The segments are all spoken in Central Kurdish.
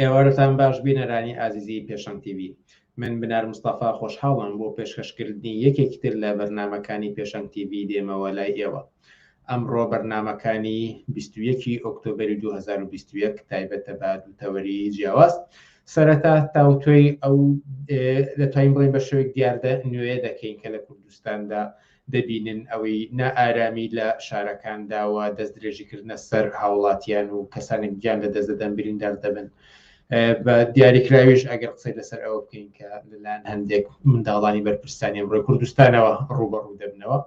ئێوارتان باش بینەرانی ئازیزی پێشەنگ تیوی من بنار مستەفا خۆشحاڵم بۆ پێشکەشکردنی یەکێکی تر لە بەرنمەکانی پێشەنگ تیوی دێمەوە لای ئێوە ئەمڕۆ بەرنمەکانی 21 ئۆکتۆبری 2021 تایبەتە بە دووتەوەری جیاواز سەرەتا تاوتۆی ئەو دەتوانین بڵین بە شوێک دیاردە نوێ دەکەین کە لە کوردستاندا دەبینن ئەوەی نائارامی لە شارەکاندا و دەستدرێژیکردنە سەر هاوڵاتیان و کەسانێک گیان لە دەست دەدەن بریندار دەبن بە دیاریکراویش ئەگەر قسەی لەسەر ئەوە بکەین کە لەلایەن هەندێک منداڵانی بەرپرسانی ئەمڕۆی کوردستانەوە ڕوبەڕوو دەبنەوە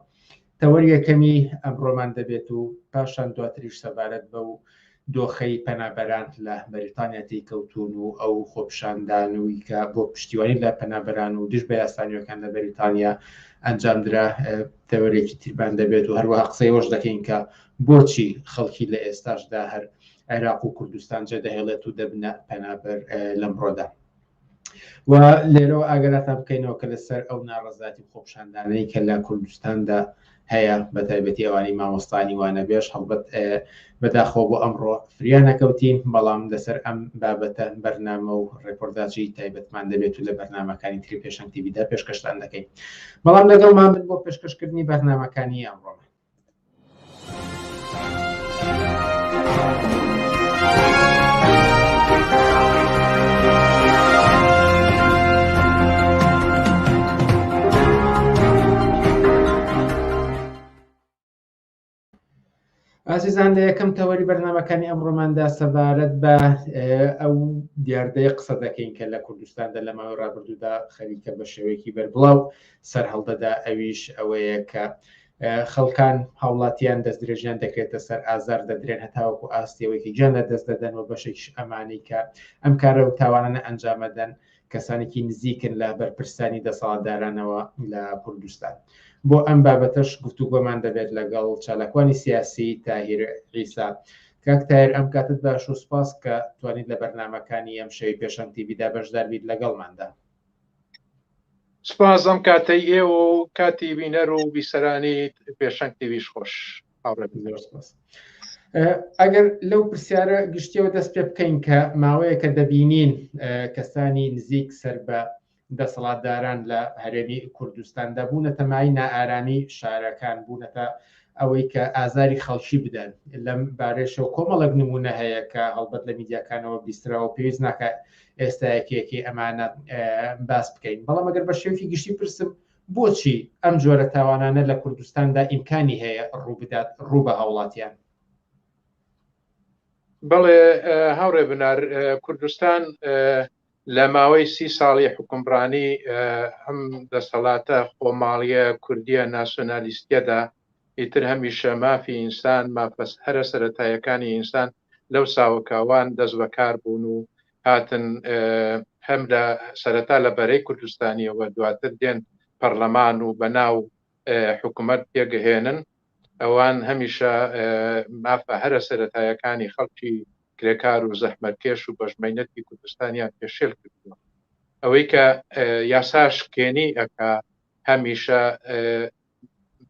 تەوەریەکەمی ئەمڕۆمان دەبێت و پاشان دواتریش سەبارەت بە و دۆخەی پەنابەران لە بەریتانیا تێیکەوتوون و ئەو خۆپیشاندانووی کە بۆ پشتیوانی لە پەنابەران و دژ بە یاسا نوێکان لە بەریتانیا ئەنجامدرا تەوەرێکی تیربان دەبێت و هەروەها قسەی ئەوەش دەکەین کە بۆچی خەڵکی لە ئێستاشدا هەر عێراق و کوردستان جێدەهێڵێت و دەبنە پەنابەر لەمڕۆدا. و لێرەوە ئاگەراتان بکەینەوە کە لەسەر ئەو ناڕەزاتی خۆپشاندانەی کە لە کوردستاندا هەیە بە تایبەتی ئەوانی مامۆستانی وانە بێش هەڵبەت بەداخۆ بۆ ئەمڕۆ فریانەکەوتین بەڵام لەسەر ئەم بابەتە بەرنامە و ڕێپۆرداچی تایبەتمان دەبێت و لە بەرنمەکانی تری پێشنگ تیبیدا پێشکەشتان دەکەین بەڵام لەگەڵمان بۆ پێشکەشکردنی بەرنمەکانی ئەمڕۆ ئازیزان لە یەکەم تەوەری بەرنمەکانی ئەمڕۆماندا سەبارەت بە ئەو دیاردەیە قسە دەکەین کە لە کوردستاندا لە ماوەی ڕابردوودا خەریکە بە شێوەیەکی بەربڵاو سەرهەڵدەدا ئەویش ئەوەیە کە خەڵکان هاوڵاتیان دەستدرێژیان دەکرێتە سەر ئازار دەدرێن هەتاوەکو ئاستەوەیکی گیان لە دەست دەدەن و بەشێکش ئەمانی کە ئەم کارە و تاوانانە ئەنجامەدەن کەسانێکی نزیکن لە بەرپرسانی دەسەڵاتدارانەوە لە کوردستان بۆ ئەم بابەتەش گفتوگۆمان دەبێت لەگەڵ چالاکوانی سیاسی تاهیر عیسا کاک تایر ئەم کاتت باش و سپاس کە توانیت لە بەرنمەکانی ئەم شەوی پێشەنگتی بیدا بەشداربیت لەگەڵماندا سپاس ئەم کاتەی ئێوە و کاتی بینەر و بیسەرانی پێشەنگ تیویش خۆش ئەگەر لەو پرسیارە گشتیەوە دەست پێ بکەین کە ماوەیە کە دەبینین کەسانی نزیک سەر بە دەسەڵاتداران لە هەرێمی کوردستاندا بوونە تەمای نائارامی شارەکان بوونەتە ئەوەی کە ئازاری خەڵکی بدەن لەم بارێشەوە کۆمەڵک نمونە هەیە کە هەڵبەت لە میدیاکانەوە بیستراوە پێویست ناکات ئێستا یەکێکی ئەمانە باس بکەین بەڵام ئەگەر بە شێوکی گشتی پرسم بۆچی ئەم جۆرە تاوانانە لە کوردستاندا ئیمکانی هەیە ڕووبدات ڕوو بە هاوڵاتیان بەڵێ هاوڕێ بنار کوردستان لە ماوەی سی ساڵی حکومڕانی ئەم دەسەڵاتە خۆماڵیە کوردیە ناسۆنالیستیەدا ئیتر هەمیشە مافی ئینسان، مافە هەرە سەرەتایەکانی ئینسان لەو ساوەکاوان دەست بە کار بوون و هاتن هەم لە سەرەتا لە بەرەی کوردستانیەوە دواتر دێن پەرلەمان و بە ناو حکوومەت پێگەهێنن ئەوان هەمیشە مافە هەرە سەرەتایەکانی خەڵکی کرێکار و زەحمەتکێش و بەژمەینەتی کوردستانیان پێشێل کردووە ئەوەی کە یاساش کێنی ئەکا هەمیشە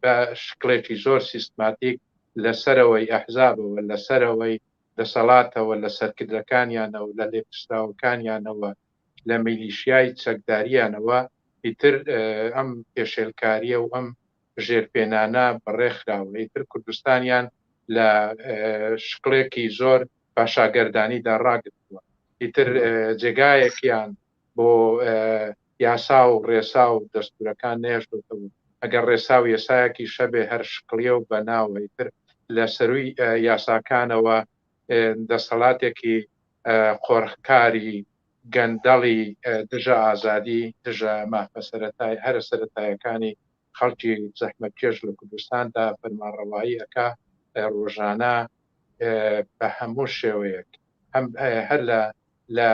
بە شکڵێکی زۆر سیستماتیک لە سەرەوەی ئەحزابەوە، لە سەرەوەی دەسەڵاتەوە، لە سەرکردەکانیانەوە، لە لێپرسراوەکانیانەوە، لە میلیشیای چەکدارییانەوە ئیتر ئەم پێشێلکارییە و ئەم ژێرپێنانە بەڕێ خراوە. ئیتر کوردستانیان لە شکڵێکی زۆر پاشاگەردانیدا ڕاگرتووە. ئیتر جێگایەکیان بۆ یاسا و ڕێسا و دەستورەکان نەهێشتۆتەوە ئەگەر ڕێسا و یەسایەکیش هەبێ هەر شکڵیە و بە ناوە ئیتر لە سەروی یاساکانەوە دەستەڵاتێکی قۆرخکاری گەندەڵی دژە ئازادی دژە مافە سەرەتای هەرە سەرەتایەکانی خەڵکی زەحمەتکێش لە کوردستاندا فەرمانڕەوایی ئەکا ڕۆژانە بە هەموو شێوەیەک هەم هەر لە لە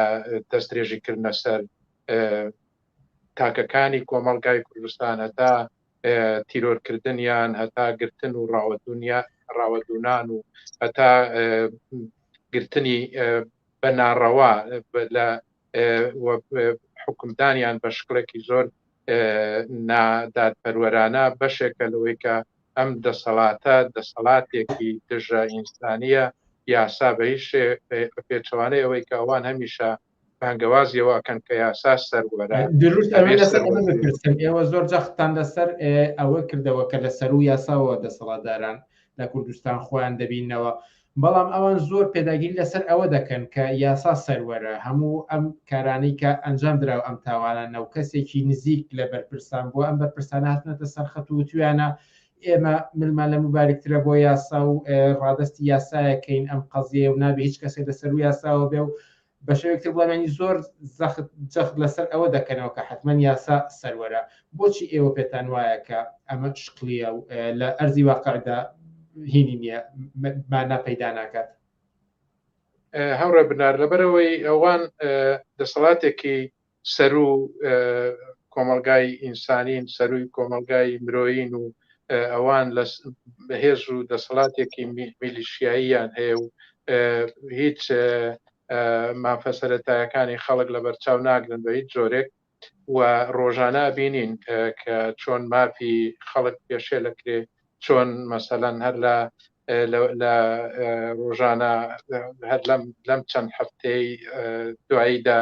دەسترێژی کردنە سەر تاکەکانی کۆمەڵگای کوردستان هەتا تیرۆرکردنیان هەتا گرتن و ڕاوەدونیا ڕاوەدونان و هەتا گرتنی بە ناڕەوا لە حکومدانیان بە شکڵێکی زۆر نادادپەروەرانە بەشێکە لەوەی کە ئەم دەسەڵاتە دەسەڵاتێکی دژە ئینسانیە یاسا بە هیچ پێچوانەی ئەوەی کە ئەوان هەمیشە بانگەوازیەوەکەن کە یاسا سەروەرە ئێوە زۆر جەختان لەسەر ئەوە کردەوە کە لە سەر و یاساوە دەسەڵاتداران لە کوردستان خۆیان دەبینەوە بەڵام ئەوان زۆر پێداگیری لەسەر ئەوە دەکەن کە یاسا سەروەرە، هەموو ئەم کارانەی کە ئەنجام درا و ئەم تاوانانە و کەسێکی نزیک لە بەرپرسان بووە، ئەم بەرپرسانە هاتوونەتە سەر خەت و وتویانە ئێمە ملمان لە موبارکترە بۆ یاسا و ڕادەستی یاسایەکەین ئەم قەزیەیە و نابێ هیچ کەسێک لەسەروو یاساوە بێ و بە شێوەیەک تر بڵێمانی زۆر زەخت جەخت لەسەر ئەوە دەکەنەوە کە حەتمەن یاسا سەروەرە، بۆچی ئێوە پێتان وایە کە ئەمە شکڵییە و لە ئەرزی واقعدا هینی نییە، مانا پەیدا ناکات؟ هاوڕێ بنار، لەبەرئەوەی ئەوان دەسەڵاتێکی سەروو کۆمەڵگای ئینسانین سەرووی کۆمەڵگای مرۆیین و ئەوان لە بەهێز و دەسەڵاتێکی میلیشیاییان هەیە و هیچ مافە سەرەتایەکانی خەڵک لە بەرچاو ناگرن بە هیچ جۆرێک و ڕۆژانە بینین کە چۆن مافی خەڵک پێشێ لەکرێ چۆن مەسەلەن هەر لە لە ڕۆژانە هەر لەم لەم چەند هەفتەی دواییدا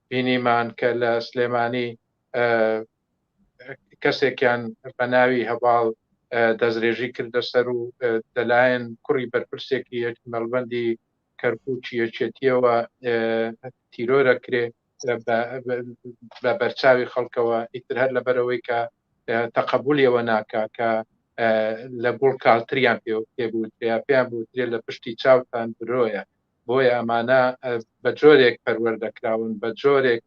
بینیمان کە لە سلێمانی کەسێکیان بە ناوی هەباڵ دەسترێژی کردە سەر و دەلایەن کوڕی بەرپرسێکی یەک مەڵبندی کەرکوچی یەکێتیەوە تیرۆرە کرێ بە بەرچاوی خەڵکەوە ئیتر هەر لەبەرەوەی کە تەقبولیەوە ناکا کە لە گوڵ کاڵتریان پێ پێ بوو پێیان بوو لە پشتی چاوتان برۆیە بۆیە ئەمانە بە جۆرێک پەروەردەکراون بە جۆرێک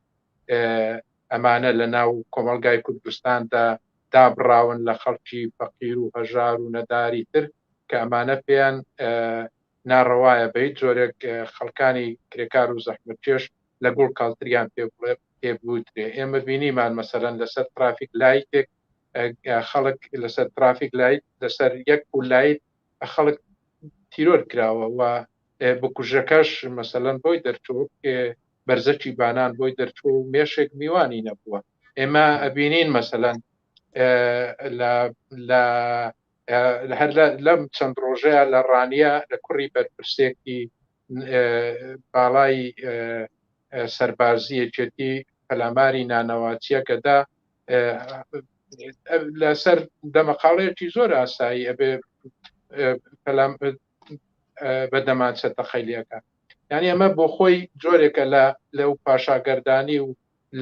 ئەمانە لە ناو کۆمەلگای کوردستاندا دابڕاون لە خەڵکی فەقیر و هەژار و نەداری تر کە ئەمانە پێیان ناڕەوایە بە هیچ جۆرێک خەڵکانی کرێکار و زەحمت پێش لە گوڵ کاڵتریان پێ بڵێ پێ بوترێ ئێمە بینیمان مەسەرەن لەسەر ترافیک لایتێک خەڵک لەسەر ترافیک لایت لەسەر یەک و لایت خەڵک تیرۆر کراوە و بکوژەکەش مەسەلەن بۆی دەرچوو بەرزەکی بانان بۆی دەرچوو و مێشێک میوانی نەبووە ئێمە ئەبینین مەسەلەن لە هەر لەم چەند ڕۆژەیە لە ڕانیە لە کوڕی بەرپرسێکی باڵای سەربازیەکێتی پەلاماری نانەواتیەکەدا لەسەر دەمەقاڵەیەکی زۆر ئاسایی ئەبێ پەلام بە دەمانچە تەقەلیەکە یعنی ئەمە بۆ خۆی جۆرێکە لە لەو پاشاگەردانی و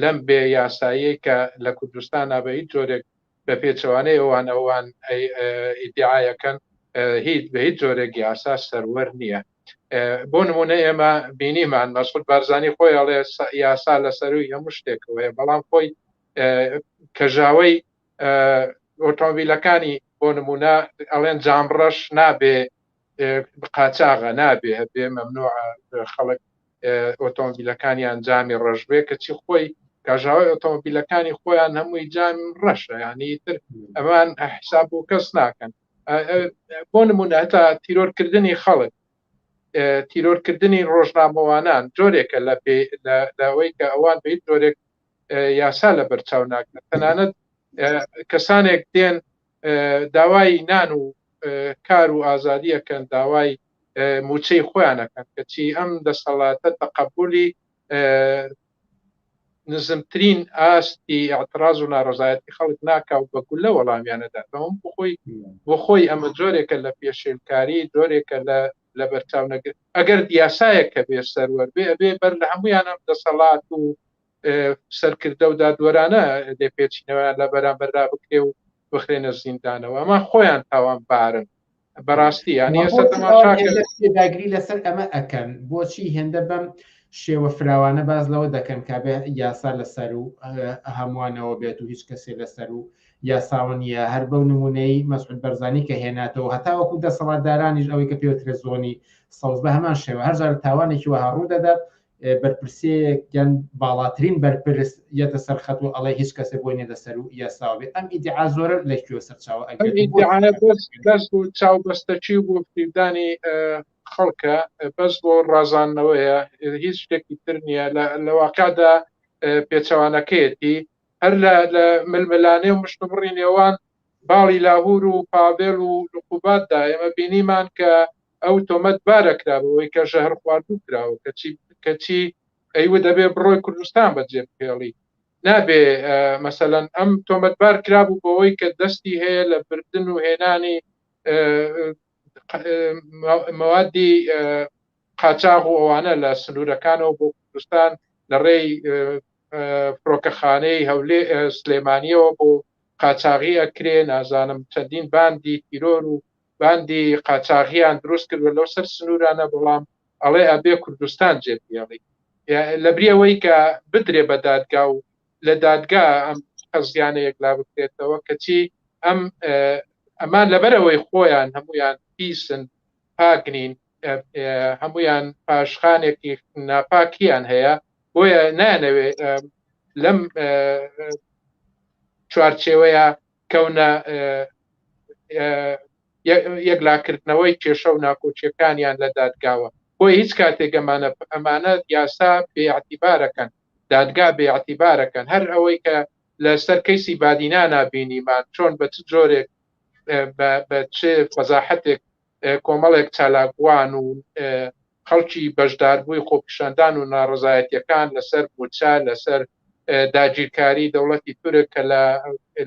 لەم بێ یاسایی کە لە کوردستان بە هیچ جۆرێک بە پێچەوانەی ئەوان ئەوان ئیدعاەکەن هیچ بە هیچ جۆرێک یاسا سەروەر نییە بۆ نمونە ئێمە بینیمان مەسود بارزانانی خۆی ئەڵێ یاسا لە سەروی هەموو شتێکەوەە بەڵام خۆی کەژاوی ئۆتۆمبیلەکانی بۆ نمونە ئەڵێن جامڕەش نابێ قاچاغە نابێ بێ مەمنوع خەڵک ئۆتۆمبیلەکانیان جامی ڕژبێ کەچی خۆی کاژاوی ئۆتۆمبیلەکانی خۆیان هەمووی جام ڕەشە ینی تر ئەمان حساب و کەس ناکەن بۆ نمونە هەتا تیرۆرکردنی خەڵک تیرۆرکردنی ڕۆژنامەوانان جۆرێکە لە پێ لەوەی کە ئەوان بە جۆرێک یاسا لە بەرچاو ناکەن تەنانەت کەسانێک دێن داوای نان و کار و ئازادیەکەن داوای موچەی خۆیانەکەن کەچی ئەم دەسەڵاتە تەقبولی نزمترین ئاستی ئەعتراز و ناڕزایەتی خەڵک ناکا و بە گولە وەڵامیانەدات بەم بخۆی بخۆی ئەمە جۆرێکە لە پێشێلکاری جۆرێکە لە لە بەرچاو نەگر ئەگەر دیاسایەک کە بێ سەروەر بێ ئەبێ بەر لە هەمویان ئەم دەسەڵات و سەرکردە و دادوەرانە لێ پێچینەوەیان لە بەرامبەردا بکرێ و بخرێنە زیندانەوە ئەمە خۆیان تاوان بارن بەڕاستی یانیداگری لەسەر ئەمە ئەەکەن بۆچی هێندە بەم شێوە فراوانە باز لەوە دەکەن کا بێ یاسا لەسەر و هەمووانەوە بێت و هیچ کەسێ لەسەر و یاساوە نیە هەر بەو نمونەی مەسعود بەرزانی کە هێناتەوە هەتا وەکو دەسەڵاتدارانیش ئەوەی کە پێوترە زۆنی سەوز بە هەمان شێوە هەرجار تاوانێکی وەها ڕوو دەدات بەرپرسەیەک یان باڵاترین بەرپرس یەتە سەر خەت و ئەڵێ هیچ کەسێ بۆی نێدە سەر و یاساوە بێ ئەم ئیدعا زۆرە لە کوێ سەرچاوە ئەگەس و چاو بەستەچی و گفتیدانی خەڵکە بەس بۆ ڕازانەوەیە هیچ شتێکی تر نییە لە واقعدا پێچەوانەکەیەتی هەر لە ململانێ و مشتبڕی نێوان باڵی لاهور و پاڤێل و لقوباتدا ئێمە بینیمان کە ئەو تۆمەت بارە کرا بەوەی کە ژەهر خواردوو کراوە کەچی کەچی ئەیوە دەبێ بڕۆی کوردستان بەجێ بهێڵی نابێ مەسەەن ئەم تۆمەت بار کرابوو بەوەی کە دەستی هەیە لە بردن و هێنانی مەوادی قاچاغ و ئەوانە لە سنوورەکانەوە بۆ کوردستان لە ڕێی فڕۆکەخانەی هەولێ سلێمانیەوە بۆ قاچاغی ئەکرێ نازانم چەندین باندی تیرۆر و باندی قاچاغیان دروست کردوە لەو سەر سنوورانە بەڵام ئەڵێ ئەبێ کوردستان جێ بێڵی لەبریەوەی کە بدرێ بە دادگا و لە دادگا ئەم قەزیانە یەکلا بکرێتەوە کەچی ئەم ئەمان لەبەرەوەی خۆیان هەمویان پیسن پاکنین هەمویان پاشخانێکی ناپاکیان هەیە بۆیە نانەوێ لەم چوارچێوەیە کەونە یەکلاکردنەوەی کێشە و ناکۆکیەکانیان لە دادگاوە بۆ هیچ کاتێک ئەمانە ئەمانە یاسا بێعتیبارەکەن دادگا بێعتیبارەکەن هەر ئەوەی کە لەسەر کەیسی بادینانا بینیمان چۆن بە چ جۆرێک بە چ فەزاحەتێک کۆمەڵێک چالاکوان و خەڵکی بەشداربووی خۆپیشاندان و ناڕەزایەتییەکان لەسەر مووچە، لەسەر داگیرکاریی دەوڵەتی تورک کە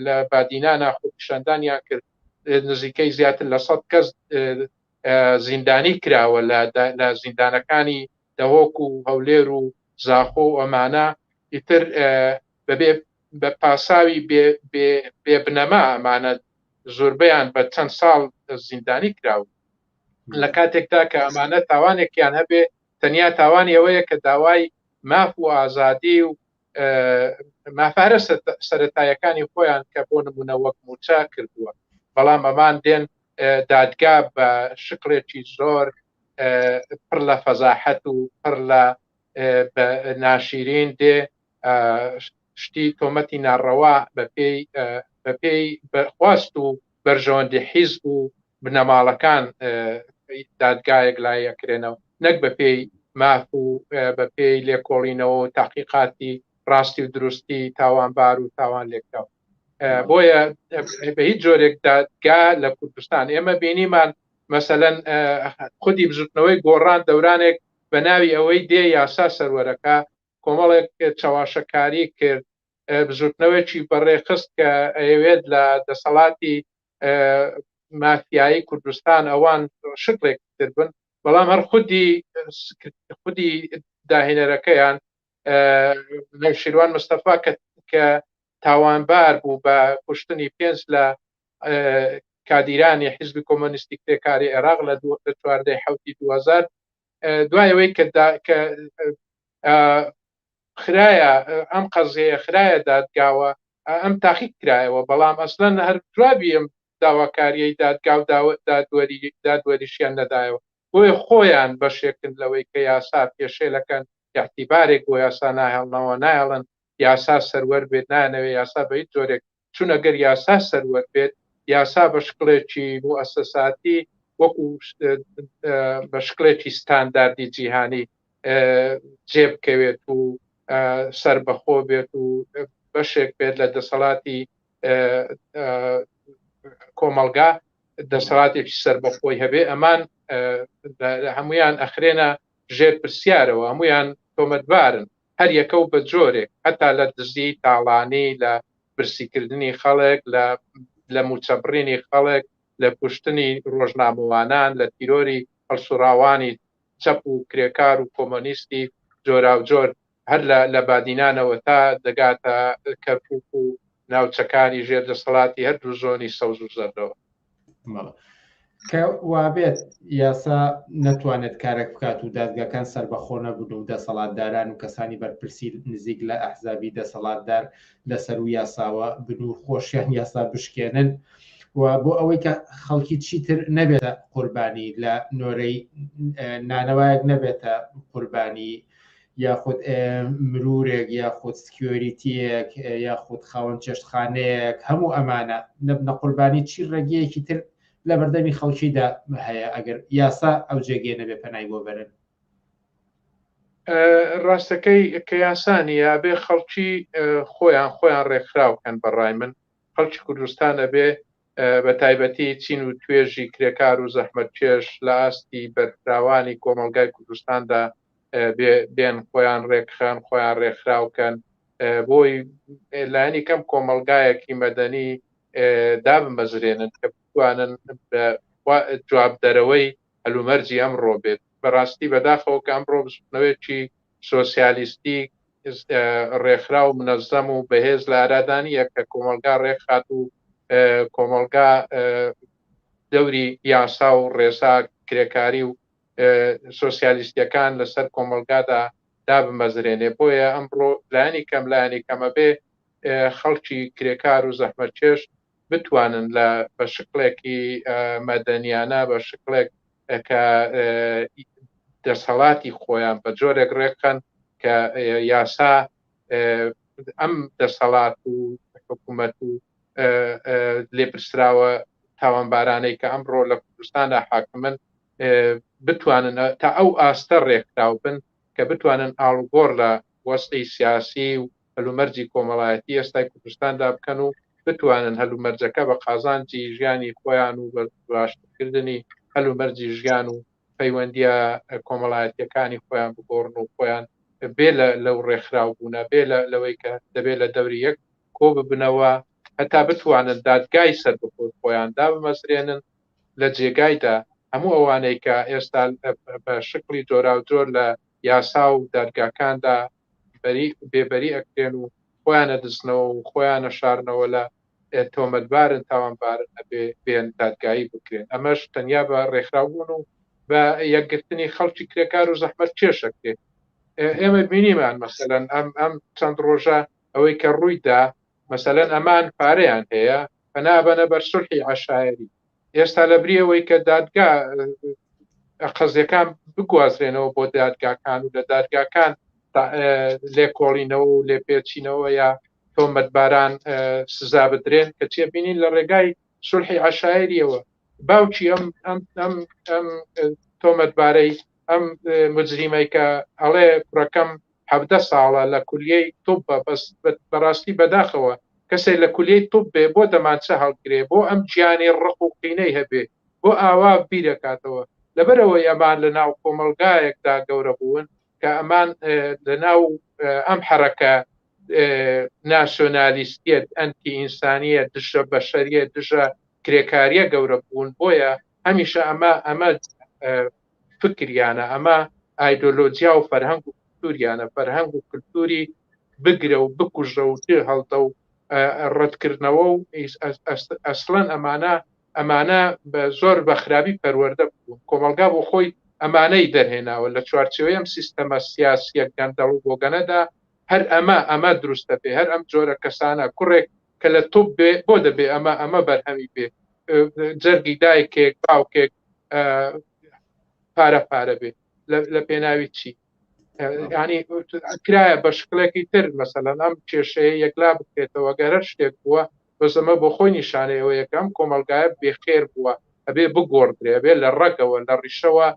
لە بادینانا خۆپیشاندانیان کرد، نزیکەی زیاتر لە سەد کەس زیندانی کراوە لە زیندانەکانی دهۆک و هەولێر و زاخۆ و ئەمانە، ئیتر بەبێ بە پاساوی بێ بێ بێ بنەما ئەمانە زوربەیان بە چەند ساڵ زیندانی کراون لە کاتێکدا کە ئەمانە تاوانێکیان هەبێ تەنیا تاوانی ئەوەیە کە داوای ماف و ئازادی و مافارە سەتایەکانی خۆیان کە بۆ نمونە وەک موچە کردووە بەڵام ئەمان دێن دادگا بە شکڵێکی زۆر پڕ لە فەزاحەت و پڕ لە ناشیرین دێ شتی تۆمەتی ناڕەوا بەپێی بەپێی خواست و بەرژەوەندی حیز و بنەماڵەکان دادگایەک لایەکرێنەوە نەک بەپێی ماف و بەپێی لێکۆڵینەوە و تاقیقاتی ڕاستی و دروستی تاوانبار و تاوان لێکراو بۆیە بە هیچ جۆرێک دادگا لە کوردستان ئێمە بینیمان مەسەەن خودی بزوتنەوەی گۆڕان دەورانێک بە ناوی ئەوەی دێ یاسا سەروەرەکە کۆمەڵێک چەواشەکاری کرد، بزوتنەوەیەکی بەڕێخست کە ئەیەوێت لە دەسەڵاتی مافیایی کوردستان ئەوان شکڵێک تر بن، بەڵام هەر خودی خودی داهێنەرەکەیان نەوشیروان مستەفا کە تاوانبار بوو بە کوشتنی پێنج لە کادیرانی حیزبی کۆمۆنیستی کرێکاری عێراق لە چواردە ی حەوتی دوو هەزار دوایەوەی کە خراە ئەم قەزەیە خراە دادگاوە ئەم تاقیق کرایەوە بەڵام ئەسلەن هەر جوابی ئەم داواکاریی دادگا و دادوەری دادوەریشیان نەدایەوە بۆیە خۆیان بەشێکن لەوەی کە یاسا پێشێلەکەن یاحتیبارێک بۆ یاسا ناهێڵنەوە نایڵن یاسا سەروەر بێت نانەوێ یاسا بە هیچ جۆرێک چون ئەگەر یاسا سەروەر بێت یاسا بە شکڵێکی موسەساتی وەکو بە شکلێکی ستانداردی جیهانی جێبکەوێت و سربەخۆ بێت و بەشێک بێت لە دەسەڵاتی کۆمەلگا دەسەڵاتێکی سربەخۆی هەبێ ئەمان هەمویان ئەخرێنە ژێر پرسیارەوە هەمویان تۆمەتبارن هەر یەکە و بە جۆرێک هەتا لە دزیی تاڵانی، لە برسیکردنی خەڵک، لە لە مووچەبڕینی خەڵک، لە کوشتنی ڕۆژنامەوانان، لە تیرۆری هەڵسوڕاوانی چەپ و کرێکار و کۆمۆنیستی جۆراوجۆر هەر لە لە بادینانەوە تا دەگاتە کەرکووک و ناوچەکانی ژێر دەسەڵاتی هەردوو زۆنی سەوز و زەردەوە. کە وابێت یاسا نەتوانێت کارێک بکات و دادگاکان سربەخۆ نەبوون و دەسەڵاتداران و کەسانی بەرپرسی نزیک لە ئەحزابی دەسەڵاتدار لەسەر و یاساوە بنوور خۆشیان یاسا بشکێنن و بۆ ئەوەی کە خەڵکی چیتر نەبێتە قوربانی لە نۆرەی نانەوایەک نەبێتە قوربانی یاخود مرورێک یاخود سکیۆریتیەک یاخود خاوەن چێشتخانەیەک هەموو ئەمانە نەبنە قوربانی چی ڕێگەیەکی تر لە بەردەمی خەڵکیدا هەیە ئەگەر یاسا ئەو جێگەیە نەبێ پەنای بۆ بەرن ڕاستەکەی کە یاسانی یابێ خەڵکی خۆیان خۆیان ڕێکخراوکەن بەڕای من خەڵکی کوردستانە بێ بە تایبەتی چین و توێژی کرێکار و زەحمەتکێش لە ئاستی بەرفراوانی کۆمەڵگای کوردستاندا بێن خۆیان ڕێکخەن، خۆیان ڕێکخراو کەن بۆی لانی کەم کۆمەڵگایەکی مەدەنی دابمەزرێنن کە بتوانن جوابدەرەوەی هەلومەرجی ئەمڕۆ بێت بەڕاستی بەداخەوە کە ئەمڕۆ بزنەوەیەکی سۆسیالیستی ڕێکخراو و منەزەم و بەهێز لە ئارادا نییە کە کۆمەڵگا ڕێکخات و کۆمەڵگا دەوری یاسا و ڕێسا کرێکاری و سۆسیالیستیەکان لەسەر کۆمەلگادا دابمەزرێنێ بۆیە ئەمڕۆ لانی کەم لانی کەمە بێ خەڵکی کرێکار و زەحمەتکێش بتوانن لە بە شکلێکی مەدەنیانە بە شکلێک کە دەسەڵاتی خۆیان بە جۆرێک ڕێکخەن کە یاسا ئەم دەسەڵات و حکوومەت و لێپرسراوە تاوانبارانەی کە ئەمڕۆ لە کوردستاندا حاکمن بتوانن تا ئەو ئاستە ڕێکراو بن کە بتوانن ئاڵگۆڕ لە وەستی سیاسی و هەلومەرجی کۆمەڵایەتی ئێستای کوردستاندا بکەن و بتوانن هەلومەرجەکە بە قازانجی ژیانی خۆیان و باشترکردنی هەلومەرجی ژیان و پەیوەندیە کۆمەڵایەتەکانی خۆیان بگۆڕن و خۆیان بێ لەو ڕێکخراو بوونە بێ لەوەی کە دەبێت لە دەوری یەک کۆ ببنەوە هەتا بتوانن دادگای سەر بخۆر خۆیان دابمەزرێنن لە جێگایدا هەموو ئەوانەی کە ئێستا بە شکلی جۆرا و جۆر لە یاسا و دادگاکاندا بەری بێبەری ئەکرێن و خۆیانە دزنەوە و خۆیانە شارنەوە لە تۆمەتبارن تاوانبارن ئەبێ بێن دادگایی بکرێن ئەمەش تەنیا بە ڕێکخراوبوون و بە یەکگرتنی خەڵکی کرێکار و زەحمەت کێشەکرێت ئێمە بینیمان مەسەلەن ئەم ئەم چەند ڕۆژە ئەوەی کە ڕوویدا مەسەلەن ئەمان پارەیان هەیە پەنابەنە بەر سلحی عشاعری ئێستا لەبری ئەوەی کە دادگا قەزیەکان بگوازرێنەوە بۆ دادگاکان و لە دادگاکان لێکۆڵینەوە و لێپێچینەوە یا تۆمەتباران سزا بدرێن کە تێبینین لە ڕێگای سولحی عشاعریەوە باوکی ئەم ئەم ئەم ئەم تۆمەتبارەی ئەم مجریمەی کە ئەڵێ کوڕەکەم حەڤدە ساڵە لە کولیەی طوبە بەس بەراستی بەداخەوە کەسێ لە کولیەی طوب بێ بۆ دەمانچە هەڵگرێ بۆ ئەم گیانی ڕق و قینەی هەبێ بۆ ئاوا بیرەکاتەوە لەبەر ئەوەی ئەمان لە ناو کۆمەڵگایەک دا گەورە بوون کە ئەمان لە ناو ئەم حەرەکە ناسیۆنالیستیەت ئەنتی ئینسانیە دژە بەشەریە دژە کرێکاریە گەورە بوون بۆیە هەمیشە ئەمە ئەمە فکریانە ئەمە ئایدۆلۆجیا و فەرهەنگ و کولتوریانە فەرهەنگ و کولتوری بگرە و بکوژە و چێ هەڵتە و ڕەتکردنەوە و ئەسڵەن ئەمانە ئەمانە زۆر بە خراپی پەروەەردە بوو کۆمەلگا بۆ خۆی ئەمانەی دەرهێناوە لە چوارچەوەی ئەم سیستەمە سیاسیە گەندەڵ و بۆگەنەدا هەر ئەمە ئەمە دروستە پێ هەر ئەم جۆرە کەسانە کوڕێک کە لە توب بێ بۆ دەبێ ئەمە ئەمە بەرهەمی بێ جەرگی دایکێک باوکێک پارە پارە بێ لە پێناوی چی ینی کرایە بە شکلێکی تر مەسەلەن ئەم کێشەیە یەکلا بکرێتەوە گەرە شتێک بووە بەسەمە بۆ خۆی نیشانەیەوە یەکەم کۆمەلگایە بێخێر بووە ئەبێ بگۆڕدرێ بێ لە ڕەگەوە لە ڕیشەوە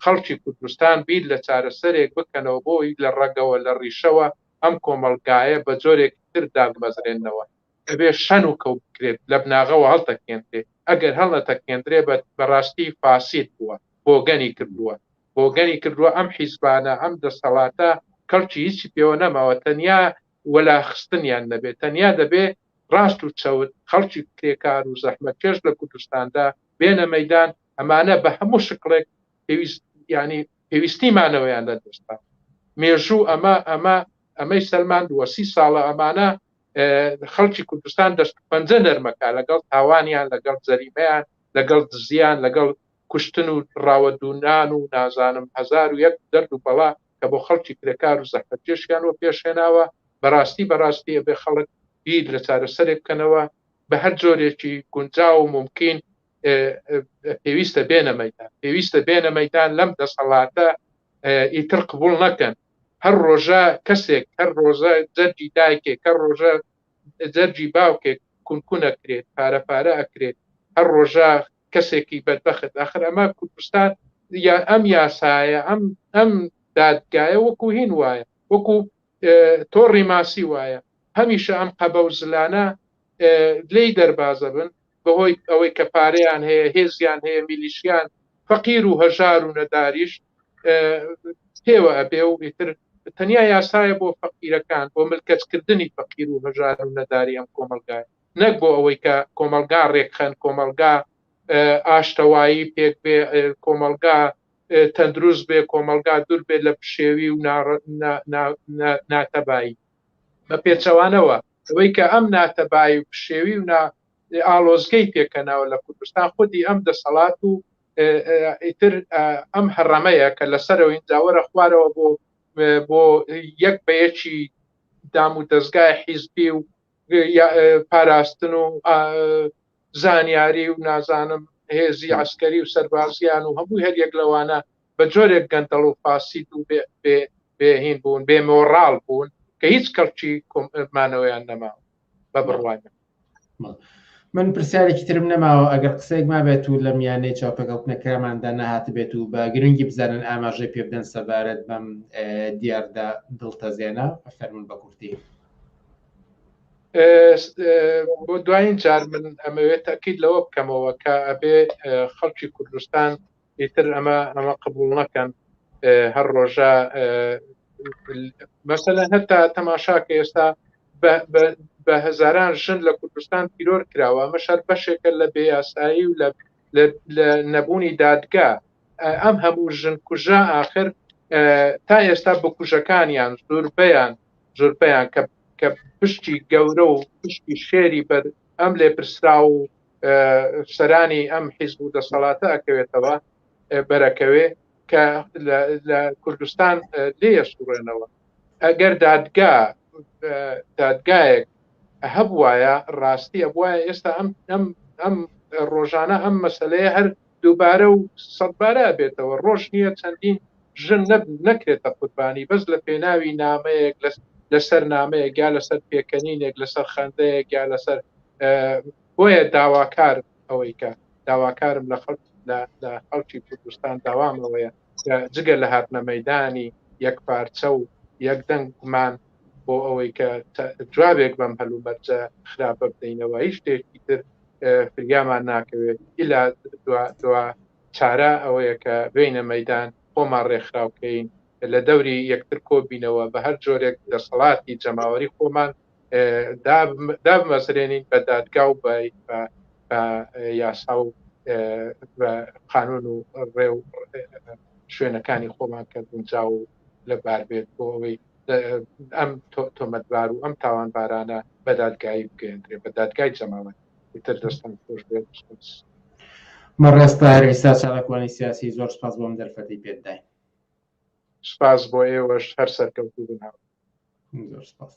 خەڵکی کوردستان بیر لە چارەسەرێک بکەنەوە بۆی لە ڕەگەوە لە ڕیشەوە ئەم کۆمەڵگایە بە جۆرێک تر دابمەزرێننەوە، دەبێ شەن و کەو بکرێت، لە بناغەوە هەڵتەکێنرێ، ئەگەر هەڵنەتەکێنرێ بە بە ڕاستی فاسید بووە، بۆگەنی کردووە، بۆگەنی کردووە، ئەم حیزبانە، ئەم دەسەڵاتە کەڵکی هیچی پێوە نەماوە تەنیا وەلاخستنیان نەبێ، تەنیا دەبێ ڕاست و چەوت، خەڵکی کرێکار و زەحمەتکێش لە کوردستاندا بێنە مەیدان، ئەمانە بە هەموو شکڵێک پێویست یانی پێویستی مانەوەیان لە دەستدا مێژوو ئەمە ئەمە ئەمەی سەلماندووە سی ساڵە ئەمانە خەڵکی کوردستان دەست پەنجە نەرمەکە لەگەڵ تاوانیان لەگەڵ زەریمەیان لەگەڵ دزیان لەگەڵ کوشتن و ڕاوەدونان و نازانم هزار و یەک دەرد و بەڵا کە بۆ خەڵکی کرێکار و زەحمەتێشیان وە پێشێناوە بەڕاستی بەڕاستی ئەبێ خەڵک بیر لە چارەسەرێک بکەنەوە بە هەر جۆرێکی گونجا و ممکن پێویستە بێنە مەدان پێویستە بێنە مەدان لەم دەسەڵاتە ئیتر قبول نەکەن هەر ڕۆژە کەسێک هەر ڕۆژە جەرجی دایکێک کە ڕۆژە جەرجی باوکێک کونکونە کرێت پارە پارە ئەکرێت هەر ڕۆژە کەسێکی بەربەخت ئاخر ئەمە کوردستان یا ئەم یاسایە ئەم ئەم دادگایە وەکو هین وایە وەکو تۆڕی ماسی وایە هەمیشە ئەم قەبە و زلانە لی دەربازە بن بەهۆی ئەوەی کە پارەیان هەیە هێزیان هەیە میلیشیان فەقیر و هەژار و نەداریش پێوە ئەبێ و ئیتر تەنیا یاسایە بۆ فەقیرەکان بۆ ملکەچکردنی فەقیر و هەژار و نەداری ئەم کۆمەلگای نەک بۆ ئەوەی کە کۆمەلگا ڕێکخەن کۆمەلگا ئاشتەوایی پێک بێ کۆمەلگا تەندروست بێ کۆمەلگا دوور بێت لە پشێوی و ناتەبایی بە پێچەوانەوە ئەوەی کە ئەم ناتەبایی و پشێوی و ئاڵۆزگەی پێکەنەوە لە کوردستان خودی ئەم دەسەڵات و ئیتر ئەم هەڕەمەیە کە لەسەرەوە ئینجاوەرە خوارەوە بۆ بۆ یەک بە یەکی دام و دەستگای حیزبی و پاراستن و زانیاری و نازانم هێزی عسکەری و سەربازیان و هەموو هەر یەک لەوانە بە جۆرێک گەندەڵ و فاسید و بێهین بوون بێ مۆڕال بوون کە هیچ کەڵکی مانەوەیان نەماوە بە بڕوانە من پرسیارێکی ترم نەماوە ئەگەر قسەێک ما بێت و لە میانەی چاپەکەوتنەکەماندا نەهاتبێت و بە گرنگی بزانن ئاماژەی پێ بدەن سەبارەت بەم دیاردا دڵتەزێنە فەرمون بە کورتی بۆ دوایین جار من ئەمەوێت تاکیید لەوە بکەمەوە کە ئەبێ خەڵکی کوردستان ئیتر ئەمە ئەمە قبول نەکەن هەر ڕۆژە مەسەلە هەتا تەماشا کە ئێستا بە هەزاران ژن لە کوردستان تیرۆر کراوە ئەمە شەر بەشێکە لە بێیاسایی و لە لە نەبوونی دادگا ئەم هەموو ژن کوژە آخر تا ئێستا بکوژەکانیان زۆربیان زۆربیان کە کە پشتی گەورە و پشتی شێری بەر ئەم لێپرسراو و سەرانی ئەم حیزب و دەسەڵاتە ئەکەوێتەوە بەرەکەوێ کە لە کوردستان لێە سوڕێنەوە ئەگەر دادگا دادگایەک هەبواە ڕاستی ئەبواە ئێستا ئەم ئەم ئەم ڕۆژانە ئەم مەسلەیە هەر دووبارە و سەدبارە ئەبێتەوە ڕۆژ نیە چەندین ژن نەبن نەکرێتە قوربانی بەس لە پێناوی نامەیەک لەسەر نامەیەک یا لەسەر پێکەنینێک لەسەر خەندەیەک یا لەسەر بۆیە داواکار ئەوەی کە داواکارم لە خەڵک لە خەڵکی کوردستان داوامەوەیە جگە لە هاتنە مەدانی یەک پارچە و یەک دەنگمان بۆ ئەوەی کە جوابێک بەم هەلومەرجە خراپە بدەینەوە هیچ شتێکی تر فریامان ناکەوێت ئیلا دوا چارە ئەوەیە کە بینە مەدان خۆمان ڕێکخراوکەین لە دەوری یەکتر کۆبینەوە بە هەر جۆرێک دەسەڵاتی جەماوەری خۆمان دابمەزرێنین بە دادگا و بە یاسا و قانون و ڕێ و شوێنەکانی خۆمان کە گونجاو لە بار بێت بۆ ئەوەی ئەم تۆمەتبار و ئەم تاوانبارانە بە دادگایی بگەێندرێ بە دادگای جەماوەت تر دەستان خۆش بێت مەڕێستار ئێستا چاڵکوانی سیاسی زۆر سپاس بۆم دەرفەتی پێداین سپاس بۆ ئێوەش هەر سەرکەوتوو بناوە زۆر سپاس.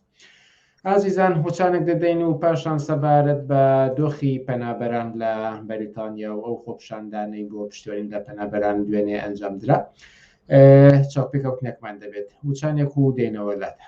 ئازیزان هۆچانک دەدەین و پاشان سەبارەت بە دۆخی پەنابەران لە بەریتانیا و ئەو خۆپشاندانەی بۆ پشتوەرین لە پەنابەران دوێنێ ئەنجام درا چاپێکەوتنێکمان دەبێت وچانێک و دێنەوە لادا.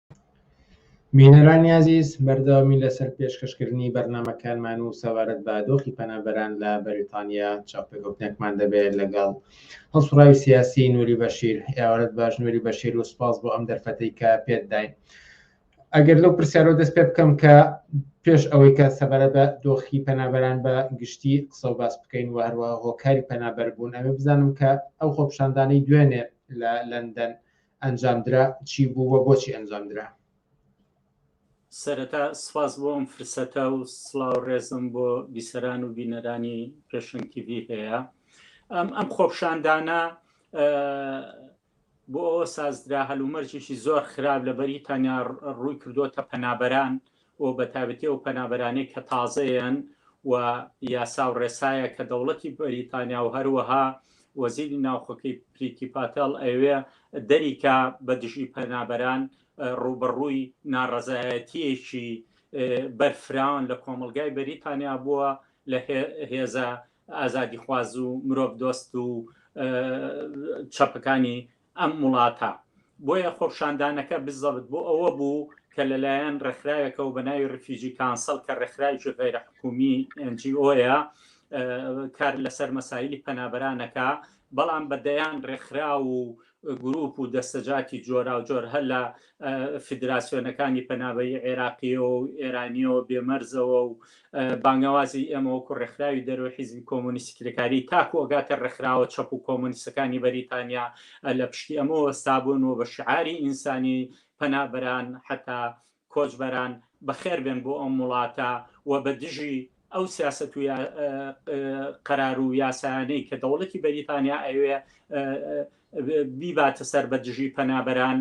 بینەرانی ئازیز بەردەوامی لەسەر پێشکەشکردنی بەرنامەکانمان و سەبارەت بە دۆخی پەنابەران لە بەریتانیا چاوپێکەوتنێکمان دەبێت لەگەڵ هەڵسوڕاوی سیاسی نوری بەشیر ئێوارەت باش نوری بەشیر و سپاس بۆ ئەم دەرفەتەی کە پێت داین ئەگەر لەو پرسیارەوە دەست پێ بکەم کە پێش ئەوەی کە سەبارە بە دۆخی پەنابەران بە گشتی قسە و باس بکەین و هەروە هۆکاری پەنابەر بوون ئەمە بزانم کە ئەو خۆپشاندانەی دوێنێ لە لەندەن ئەنجامدرا چی بوو و بۆچی ئەنجامدرا؟ سەرەتا سپاس بۆ ئەم فرسەتە و سڵاو ڕێزم بۆ بیسەران و بینەرانی پێشنگ تیڤی هەیە ئەم ئەم خۆپشاندانە بۆ ئەوە سازدرا هەلومەرجێکی زۆر خراپ لە بەریتانیا ڕووی کردووەتە پەنابەران و بە تایبەتی ئەو پەنابەرانەی کە تازەیەن و یاسا و ڕێسایە کە دەوڵەتی بەریتانیا و هەروەها وەزیری ناوخۆکەی پریتی پاتێڵ ئەیەوێ دەریکا بە دژی پەنابەران ڕووبەڕووی ناڕەزایەتییەکی بەرفراوان لە کۆمەڵگای بەریتانیا بووە لە هێزە ئازادیخواز و مرۆڤدۆست و چەپەکانی ئەم وڵاتە، بۆیە خۆپشاندانەکە بزەبت بۆ ئەوە بوو کە لەلایەن ڕێکخراوێکەوە بە ناوی ڕیفیوجی کانسڵ کە ڕێکخراوێکی غەیرە حکوومی، NGO، یە کار لەسەر مەسایلی پەنابەران ئەکا، بەڵام بە دەیان ڕێکخراو و گرووپ و دەستەجاتی جۆراوجۆر هەر لە فیدراسیۆنەکانی پەنابەری عێراقییەوە و ئێرانییەوە بێ مەرزەوە و بانگەوازی ئێمە وەکو ڕێکخراوی دەرەوەی حیزبی کۆمۆنیستی کرێکاریی تاکو ئەگاتە ڕێکخراوە چەپ و کۆمۆنیستەکانی بەریتانیا لە پشتی ئەمە وەستابوون و بە شیعاری ئینسانی پەنابەران حەتا کۆچبەران بەخێربێن بۆ ئەم وڵاتە و بە دژی ئەو سیاسەت و قەرار و یاسانەی کە دەوڵەتی بەریتانیا ئەوێ بیباتە سەر بە دژی پەنابەران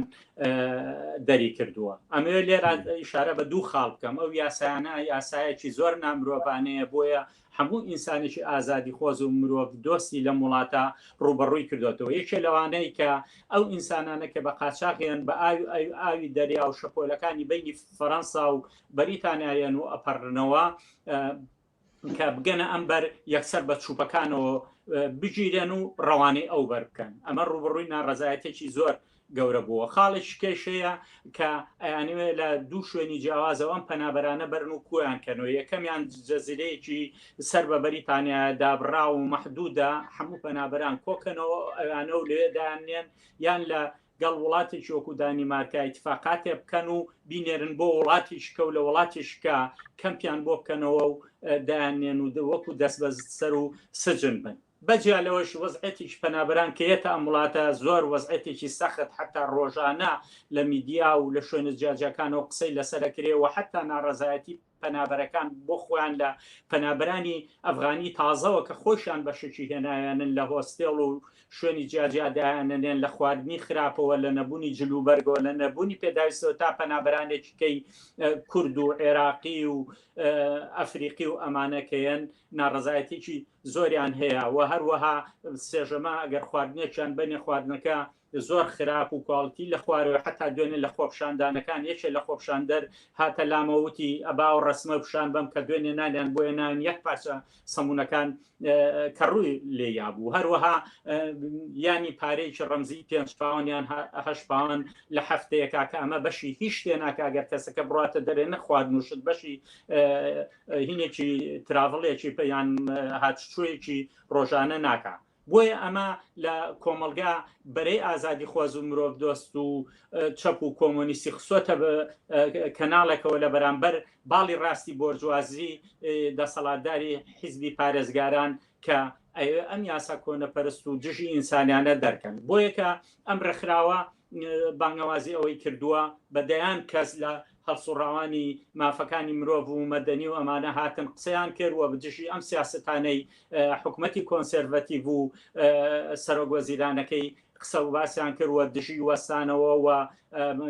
دەری کردووە ئەمەوێت لێرا ئیشارە بە دوو خاڵ بکەم ئەو یاسانە یاسایەکی زۆر نامرۆڤانەیە بۆیە هەموو ئینسانێکی ئازادی خۆز و مرۆڤ دۆستی لە وڵاتە ڕوبەڕووی کردوێتەوە یەکێ لەوانەیە کە ئەو ئینسانانە کە بە قاچاقیان بە ئاوی ئاوی دەریا و شەپۆلەکانی بینی فەەنسا و بەریتانیایەن و ئەپەڕنەوە کە بگەنە ئەم بەر یەکسەر بە چوپەکانەوە بگیرێن و ڕەوانەی ئەو بەر بکەن ئەمە ڕوبڕووی ناڕزایەتێکی زۆر گەورە بووە خاڵێک کێشەیە کە ئەیانوێ لە دوو شوێنی جیاوازەوەم پەنابەرانە بەرن و کویان کەنەوە یەکەمیان جەزیرەیەکی سەر بە بەریتانیا دابڕا و مەحدودا هەموو پەنابەران کۆکەنەوە ئەوانە و لێدانێن یان لە گەڵ وڵاتێکی وەکو دانیمارکا ئیتفاقاتێ بکەن و بینێرن بۆ وڵاتی شکە و لە وڵاتی شکە کەمپیان بۆ بکەنەوە و دایانێن و وەکو دەست بە سەر و سجن بن بەجیا لەوەش وەزعەتێکی پەنابران کە یەتە ئەم وڵاتە زۆر وەزعەتێکی سەخت حتا ڕۆژانە لە میدیا و لە شوێنە جیاجیاکانەوە قسەی لەسەرەکرێ و حتا ناڕەزایەتی پەنابەرەکان بۆ خۆیان لە پەنابەرانی ئەفغانی تازەوە کە خۆیشان بەشێکی هێناویانن لە هۆستێڵ و شوێنی جیاجیا دایانەنێن لە خواردنی خراپەوە لە نەبوونی جلوبەرگەوە لە نەبوونی پێداویستەوە تا پەنابەرانێکی کەی کورد و عێراقی و ئەفریقی و ئەمانە کەیەن ناڕەزایەتێکی زۆریان هەیە و هەروەها سێژەما ئەگەر خواردنێکیان بەنێ خواردنەکە زۆر خراپ و کواڵتی لە خوارەوە حەتا دوێنێ لە خۆپشاندانەکان یەکێ لە خۆپشاندەر هاتە لامە وتی ئەبا ئەو ڕەسمە پیشان بەم کە دوێنێ نانیان بۆیە نان یەک پارچە سەمونەکان کە ڕووی لێ یابوو هەروەها یانی پارێکی ڕەمزی پێنج پاوان یان هەش پاوان لە هەفتەیە کاکە ئەمە بەشی هیچ شتێ ناکگەر کەسەکە بڕاتە دەرێ نەخوارد نوشت بەشی هینێکی تراڤڵێکی پێیان هاتچوویەکی ڕۆژانە ناکە بۆیە ئەمە لە کۆمەڵگا بەرەی ئازادیخواز و مرۆڤدۆست و چەپ و کۆمۆنیستی خسۆتە کەناڵێکەوە لە بەرامبەر باڵی ڕاستی بۆرجوازی دەسەڵاتداری حیزبی پارێزگاران کە ئەوێ ئەم یاسا کۆنەپەرست و دژی ئینسانیانە دەرکەن بۆیەکە ئەم ڕێکخراوە بانگەوازی ئەوەی کردووە بە دەیان کەس لە هەڵسوڕاوانی مافەکانی مرۆڤ و مەدەنی و ئەمانە هاتن قسەیان کرد و بەدژی ئەم سیاسەتانەی حکومەتی کۆنسێرڤەتیڤ و سەرۆک وەزیرانەکەی قسە و باسیان کرد و دژی وەستانەوە و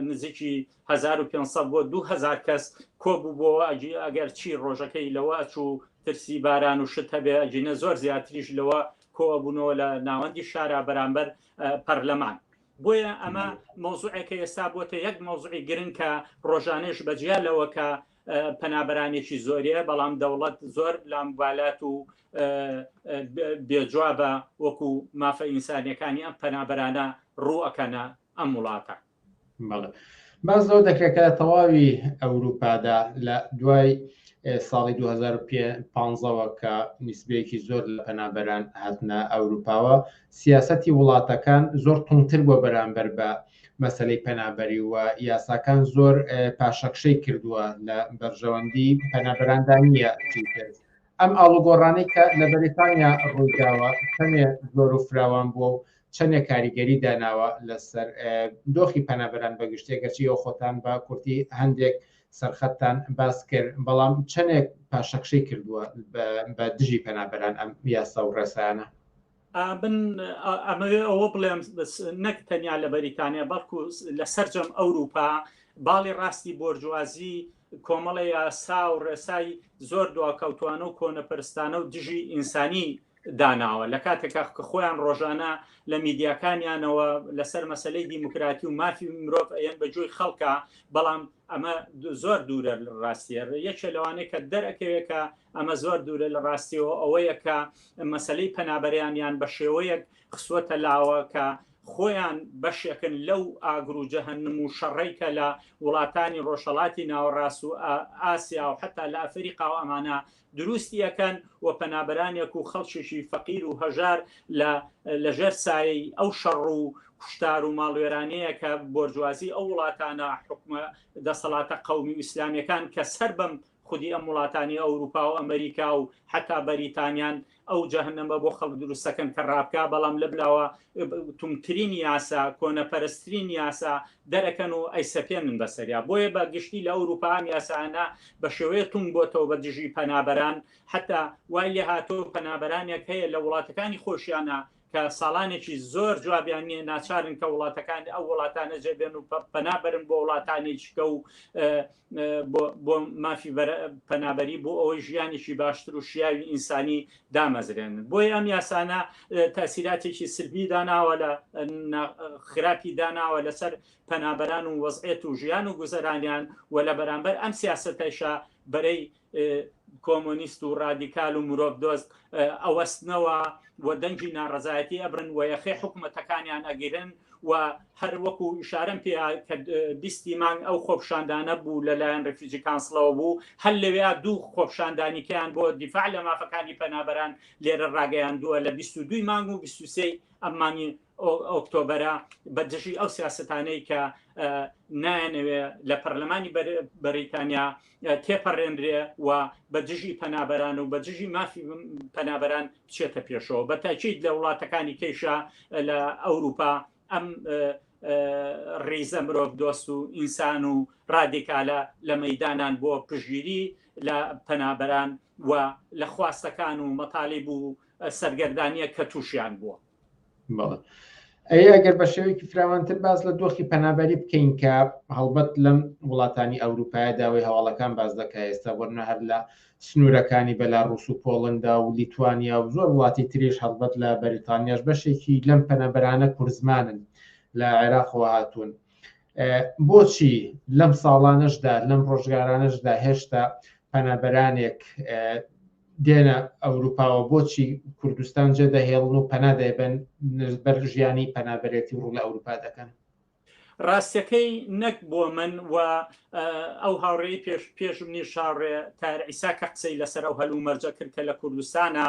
نزیکی هەزار و پێنج سەد بۆ دوو هەزار کەس کۆبووبۆوە ئەگی ئەگەر چی ڕۆژەکەی لەوە ئەچوو ترسی باران و شت هەبێ ئەگینە زۆر زیاتریش لەوە کۆبوونەوە لە ناوەندی شارا بەرامبەر پەرلەمان بۆیە ئەمە مەوزوعێکە ئێستا بۆتە یەک مەوزعی گرنگ کە ڕۆژانێش بەجیا لەوە کە پەنابەرانێکی زۆریە بەڵام دەوڵەت زۆر لام بالات و بێجوابە وەکو مافە ئینسانیەکانی ئەم پەنابەرانە ڕووەکەنە ئەم وڵاتە بەڵێ باز لەو دەکرێکە تەواوی ئەوروپادا لە دوای ساڵی 2015ەوە کە نیسبەیەکی زۆر لە پەنابەران هاتنە ئەوروپاوە سیاسەتی وڵاتەکان زۆر توندتر بووە بەرامبەر بە مەسەلەی پەنابەری و یاساکان زۆر پاشەکشەی کردووە لە بەرژەوەندی پەنابەراندا نییە چیتر ئەم ئاڵوگۆڕانەی کە لە بەریتانیا ڕوویداوە چەندێ زۆر و فراوان بووە و چەندێ کاریگەری داناوە لەسەر دۆخی پەنابەران بەگشتێک گەرچی ئەو خۆتان بە کورتی هەندێک سەرخەتتان باس کرد بەڵام چەندێک پاشەکشەی کردووە بە دژی پەنابەران ئەم یاسا و ڕێسایانە من ئەمەوێ ئەوە بڵێم نەک تەنیا لە بەریتانیا بەڵکو لە سەررجەم ئەوروپا باڵی ڕاستی بۆرجوازی کۆمەڵە یاسا و ڕێسای زۆر دواکەوتوانە و کۆنەپەرستانە و دژی ئینسانی داناوە لە کاتێکا کە خۆیان ڕۆژانە لە میدیاکانیانەوە لەسەر مەسلەی دیموکراتی و مافی مرۆڤ ئەەن بە جۆی خەڵکە بەڵام ئەمە زۆر دوورە ڕاستیە یەکێ لەوانەیە کە دەرەکەوێکە ئەمە زۆر دوورە لە ڕاستیەوە ئەوەیە کە مەسەلەی پەنابەرانیان بە شێوەیەک خسوەتە لاوە کە خۆیان بەشێکن لەو ئاگر و جەهەنم و شەڕەی کە لە وڵاتانی ڕۆژهەڵاتی ناوەڕاست و ئاسیا و حەتا لە ئەفەریقا و ئەمانە دروستی ئەکەن و پەنابەرانێک و خەڵکێکی فەقیر و هەژار لە لەژێر سایەی ئەو شەڕ و کوشتار و ماڵوێرانەیە کە بۆرجوازی ئەو وڵاتانە حکومە دەسەڵاتە قەومی و ئیسلامیەکان کە سەر بەم خودی ئەم وڵاتانی ئەوروپا و ئەمریکا و حەتا بەریتانیان ئەو جەهەنەمە بۆ خەڵک دروست دەکەن کە ڕابکا بەڵام لە بلاوە توندترین یاسا کۆنەپەرستترین یاسا دەرەکەن و ئەیسەپێنن بەسەریا بۆیە بە گشتی لە ئەوروپا ئەم یاسانە بە شێوەیە تونگ بۆتەوە بە دژی پەنابەران حەتا وای لێهاتوو پەنابەرانێک هەیە لە وڵاتەکانی خۆشیانە کە ساڵانێکی زۆر جوابیان نیە ناچارن کە وڵاتەکان ئەو وڵاتانە جێبێن و پەنابرن بۆ وڵاتانی چکە و بۆ مافی پەنابەری بۆ ئەوەی ژیانێکی باشتر و شیاوی ئینسانی دامەزرێن بۆی ئەم یاسانە تاسیراتێکی سلبی داناوە لە خراپی داناوە لەسەر پەنابەران و وەزعێت و ژیان و گوزەرانیان و لە بەرامبەر ئەم سیاستەشە بەرەی کۆمۆنیست و ڕادیکال و مرۆڤ دۆست ئەوەستنەوە و دەنگی ناڕەزایەتی ئەبرن و یەخەی حکوومەتەکانیان ئەگیرن و هەر وەکو ئشارم پێ کە بیستی مانگ ئەو خۆپشاندانە بوو لەلایەن ڕفیجی کانسڵەوە بوو هەر لەوێ دوو خۆپشاندانیکەیان بۆ دیفاع لە مافەکانی پەنابەران لێرە ڕاگەیاندووە لە 22 مانگ و 23 ئەم مانگی ئۆکتۆبەرە بە دژی ئەو سیاسەتانەی کە نایانەوێ لە پەرلەمانی بەریتانیا تێپەڕێنرێ و بە دژی پەنابەران و بە دژی مافی پەنابەران بچێتە پێشەوە بە تاکیید لە وڵاتەکانی کەیشە لە ئەوروپا ئەم ڕیزە مرۆڤ دۆست و ئینسان و ڕادیکالە لە مەدانان بۆ پژگیری لە پەنابەران و لە خواستەکان و مەتالی بوو سەرگەردانە کە تووشیان بووە ئەی ئەگەر بە شێوەیەکی فراوانتر باز لە دۆخی پەنابەری بکەین کە هەڵبەت لەم وڵاتانی ئەوروپایە داوای هەواڵەکان باز دەکە ئێستا وەرنە هەر لە سنوورەکانی بەلا ڕوس و پۆڵندا و لیتوانیا و زۆر وڵاتی تریش هەڵبەت لە بەریتانیاش بەشێکی لەم پەنەبەرانە کورزمانن لە عێراقەوە هاتوون بۆچی لەم ساڵانەشدا لەم ڕۆژگارانەشدا هێشتا پەنابەرانێک دێنە ئەوروپاوە بۆچی کوردستان جێ دەهێڵن و پەنا دەیبەن بەر ژیانی پەنابەرێتی و ڕوو لە ئەوروپا دەکەن؟ ڕاستەکەی نەک بۆ من و ئەو هاوڕێی پێش پێش منی شاڕێ تار ئیسا کە قسەی لەسەر ئەو هەلو مەرجە کرد کە لە کوردستانە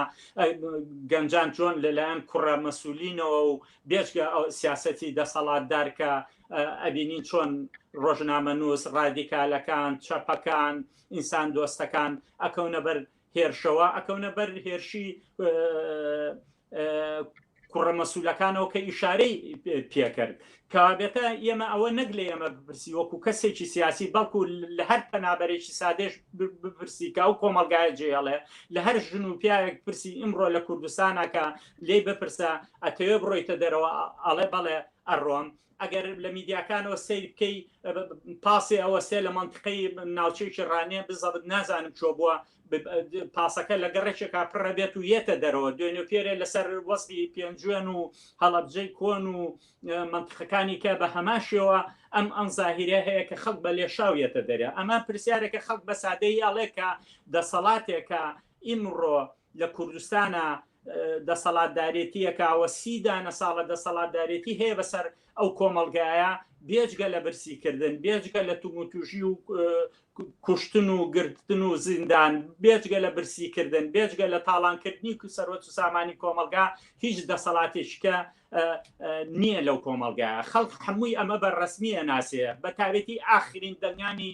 گەنجان جۆن لەلایەن کوڕە مەسولینەوە و بێچگە ئەو سیاسەتی دەسەڵاتدارکە ئەبینین چۆن ڕۆژنامە نووس ڕادیکالەکان چەپەکان و ئینسان دۆستەکان ئەکەونە بەر هێرشەوە ئەکەونە بەر هێرشی کوڕە مەسوولەکانەوە کە ئیشارەی پێکرد کابێتە ئێمە ئەوە نەک لە ئێمە بپرسی وەکو کەسێکی سیاسی بەڵکو لە هەر پەنابەرێکی سادێش بپرسی کە ئەو کۆمەلگایە جێڵێ لە هەر ژن و پیاوێک پرسی ئیمڕۆ لە کوردستانەکە لێ بپرسە ئەتەوێ بڕۆیتە دەرەوە ئەڵێ بەڵێ ئەڕۆم ئەگەر لە میدیاکانەوە سەیر بکەی پاسێ ئەوە سێ لە مەنتقەی ناوچەیەکی ڕانێ بزەبت نازانم چۆ بووە پاسەکە لە گەڕێکێکا پڕە بێت و یەتە دەرەوە دوێنێ پێرێ لەسەر وەزی پێنجوێن و هەڵەبجەی کۆن و منتقەکانی کە بە هەماشەوە ئەم ئەم زاهیرە هەیە کە خەڵک بە لێشاویەتە دەرێ ئەمە پرسیارێکە خەڵک بە سادەی ئەڵێکە دەسەڵاتێکە ئیمڕۆ لە کوردستانا دەسەڵاتدارێتییەکا و سی دانە ساڵە دەسەڵاتدارێتی هەیە بەسەر ئەو کۆمەڵگایە، بێجگە لە برسیکردن، بێجگە لە توموتوژی و کوشتن و گرتن و زیندان، بێجگە لە برسیکردن، بێجگە لە تاڵانکردنی سەروەت و سامانی کۆمەڵگا، هیچ دەسەڵاتێکیکە نییە لەو کۆمەڵگایە. خەڵک هەمووی ئەمە بە رەسمی ئەناسێ، بەتایبەتی ئاخرین دەنگانی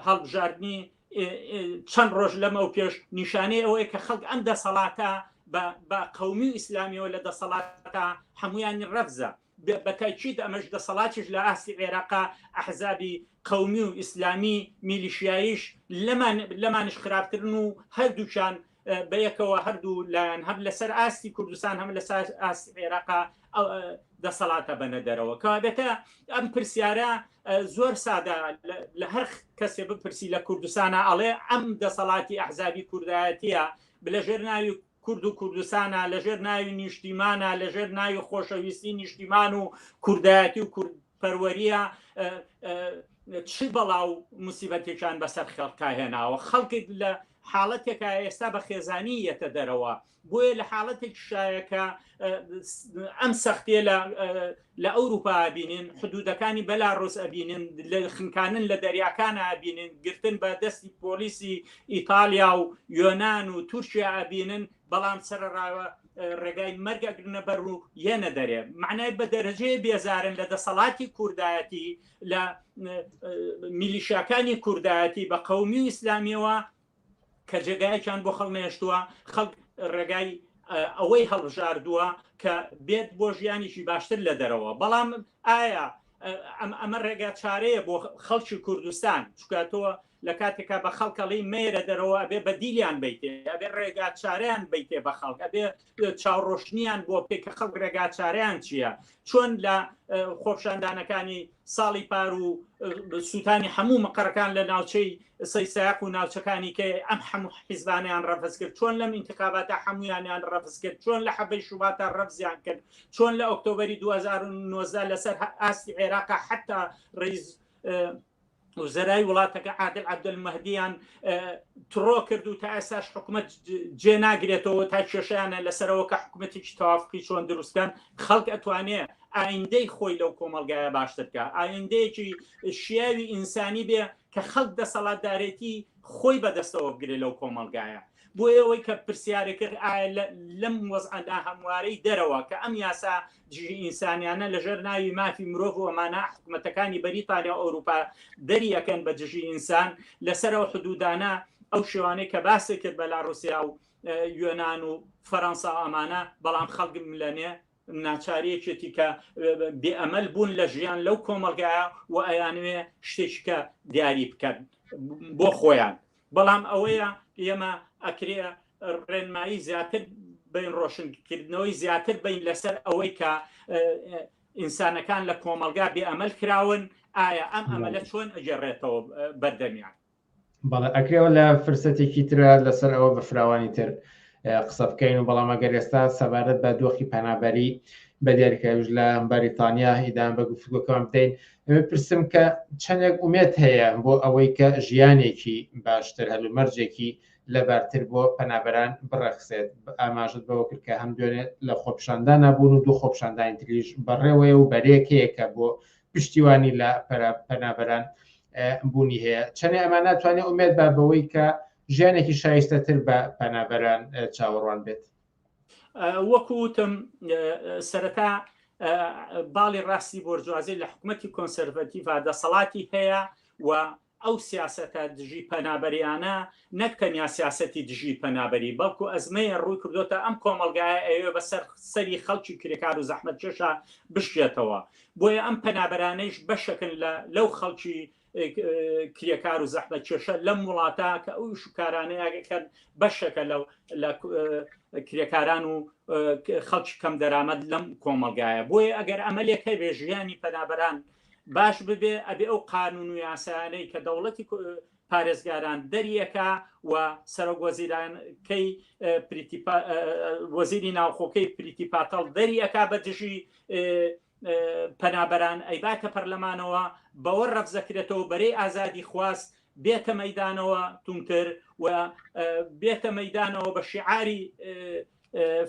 هەڵبژاردنی چەند ڕۆژ لەمەو پێش نیشانەی ئەوەیە کە خەڵک ئەم دەسەڵاتە بە قومی و ئیسلامیەوە لە دەسەڵاتە هەمویانی ڕەفزە بەتاکیید ئەمەش دەسەڵاتیش لە ئاستی عێراقا ئەحزابی قومی و ئیسلامی میلیشیاییش لەمان لەمانش خراپترن و هەردووچان بەیەکەوە هەردوو لایەن هەم لەسەر ئاستی کوردستان هەم لەسەر ئاستی عێراقا دەسەڵاتە بەنە دەرەوە کەوابێتە ئەم پرسیارە زۆر سادا لە هەر کەسێ بپرسی لە کوردستانە ئەڵێ ئەم دەسەڵاتی ئەحزابی کوردایەتە بلە ژێر ناوی کورد و کوردستانە لەژێر ناوی نیشتیمانە لەژێر ناوی خۆشەویستی نیشتیمان و کوردایەتی و کورد پەروەریە چ بەڵاو مسیبەتێکان بەسەر خەڵکا هێناوە خەڵکت لە حاڵەتێکە ئێستا بە خێزانی یەتە دەرەوە، بۆیە لە حاڵەتێکیشدایە کە ئەم سەختییە لە ئەوروپا ئەبینین، حدوودەکانی بەلاڕۆس ئەبینین، خنکاندن لە دەریاکان ئەبینین، گرتن بە دەستی پۆلیسی ئیتاڵیا و یۆنان و تورکیا ئەبینن، بەڵام سەرەڕا ڕێگای مەرگ ئەگرنە بەر و یەنە دەرێ. مەعنای بە دەرەجەیە بێزارن لە دەسەڵاتی کوردایەتی، لە میلیشاکانی کوردایەتی بە قومی و ئیسلامیەوە کە جێگایەکیان بۆ خەڵمێشتووە خەڵک ڕێگای ئەوەی هەڵبژاردووە کە بێت بۆ ژیانێکی باشتر لە دەرەوە بەڵام ئایا ئەمە ڕێگا چارەیە بۆ خەڵکی کوردستان چکاتەوە لە کاتێکا بە خەڵک ئەڵێی مەیەرە دەرەوە ئەبێ بە دیلیان بیتێ ئەبێ ڕێگا چارەیان بیتێ بە خەڵک ئەبێ چاوڕۆشنیان بۆ بکەی کە خەڵک ڕێگا چارەیان چییە چۆن لە خۆپشاندانەکانی ساڵی پار و سووتانی هەموو مقڕەکان لە ناوچەی سەی ساق و ناوچەکانی کە ئەم هەموو حیزبانیان ڕەفز کرد چۆن لەم انتخاباتە هەمویانیان ڕەفز کرد چۆن لە حەبەی شوباتە ڕەفزیان کرد چۆن لە ئۆکتۆبری 2009 لەسەر ئاستی عێراق حتا ڕیز وزرای وڵاتەکە عادل عبدل مەهدیان تڕۆ کرد و تا ئێساش حکوومەت جێ ناگرێتەوە تا کێشیانە لەسەرەوە کە حکوومەتێکی تەوافقی چۆن دروستکەن خەڵک ئەتوانێت ئایندەی خۆی لەو کۆمەلگایە باشترکە ئایندەیەکی شیاوی ئینسانی بێ کە خەڵک دەسەڵاتدارێتی خۆی بەدەستەوە بگرێت لەو کۆمەلگایە بۆ ئەوەی کە پرسیارەکرد لەم وەزعدا هەموارەی دەرەوە کە ئەم یاسا دژی ئینسانیانە لەژێر ناوی مافی مرۆڤ و مانا حکومەتەکانی بەریتانیا و ئەوروپا دەری ئەکەن بە دژی ئینسان لەسەرەوە حدودانە ئەو شێوانەی کە باسی کرد بە لا رووسیا و یۆناان و فەەنسا ئەمانە بەڵام خەڵگم لەنێ ناچارەیەکێتی کە بێئەمەل بوون لە ژیان لەو کۆمەلگایە و ئەیانوێ شتێککە دیاری بکەن بۆ خۆیان بەڵام ئەوەیە ئێمە ئەکرێ ڕێنمایی زیاتر بین ڕۆشنکردنەوەی زیاتر بین لەسەر ئەوەی کە ئینسانەکان لە کۆمەلگا بێ ئەمەل کراون ئایا ئەم ئەمەلە چۆن ئەگەڕێتەوە بەردەمیان بەڵێ ئەکرێەوە لە فرسەتێکی ترە لەسەر ئەوە بە فراوانی تر قسە بکەین و بەڵام ئەگەر ئێستا سەبارەت بە دۆخی پەنابەری بە دیاریکەویش لە بەریتانیا ئیدان بە گفتگۆکان بدەین ئەوێ پرسم کە چەندێک ئومێت هەیە بۆ ئەوەی کە ژیانێکی باشتر هەلومەرجێکی لەبارتر بۆ پەنابەران بڕەخسێت ئاماژت بەوە کرد کە هەم دوێنێ لە خۆپشاندان نبوون و دوو خۆپشاندانی تریش بەڕێوەیە و بەرێکەیەکە بۆ پشتیوانی لە پەنابەران بوونی هەیە چەنێ ئەمان ناتوانێت ئومێت بە بەوەی کە ژیانێکی شایستەتر بە پەنابەران چاوەڕوان بێت وەکو وتم سەرەتا باڵی ڕاستی بۆرجوازی لە حکوومەتتی کۆنسەرڤەتیڤ دەسەڵاتی هەیە و ئەو سیاستە دژی پەنابەریانە نەک تەنیا سیاستی دژی پەنابەری بەڵکو ئەزمەیە ڕووی کردوتە ئەم کۆمەلگایە ئەوێ بەسەر سەری خەڵکی کرێکار و زەحمەت کێشە بشێتەوە بۆیە ئەم پەنابەرانەیش بەشەکن لە لەو خەڵکی کرێکار و زەحمە کێشە لەم وڵاتە کە ئەو شکارانەیەکەن بەشەکە لەو لە کرێکاران و خەڵکی کەم دەرامەت لەم کۆمەلگایە بۆیە ئەگەر ئەمە لێک هەبێ ژیانی پەنابەران باش ببێ ئەبێ ئەو قانون و یاسانەی کە دەوڵەتی پارێزگاران دەریەکە و سەرۆک وەزیرانکەی وەزیری ناوخۆکەی پریتی پاتەڵ دەریەکە بە دژی پەنابەران ئەیباتە پەرلەمانەوە بەوە ڕەفزەکرێتەوە بەرەی ئازادی خواست بێتە مەدانەوە تونتر و بێتە مەدانەوە بە شعاری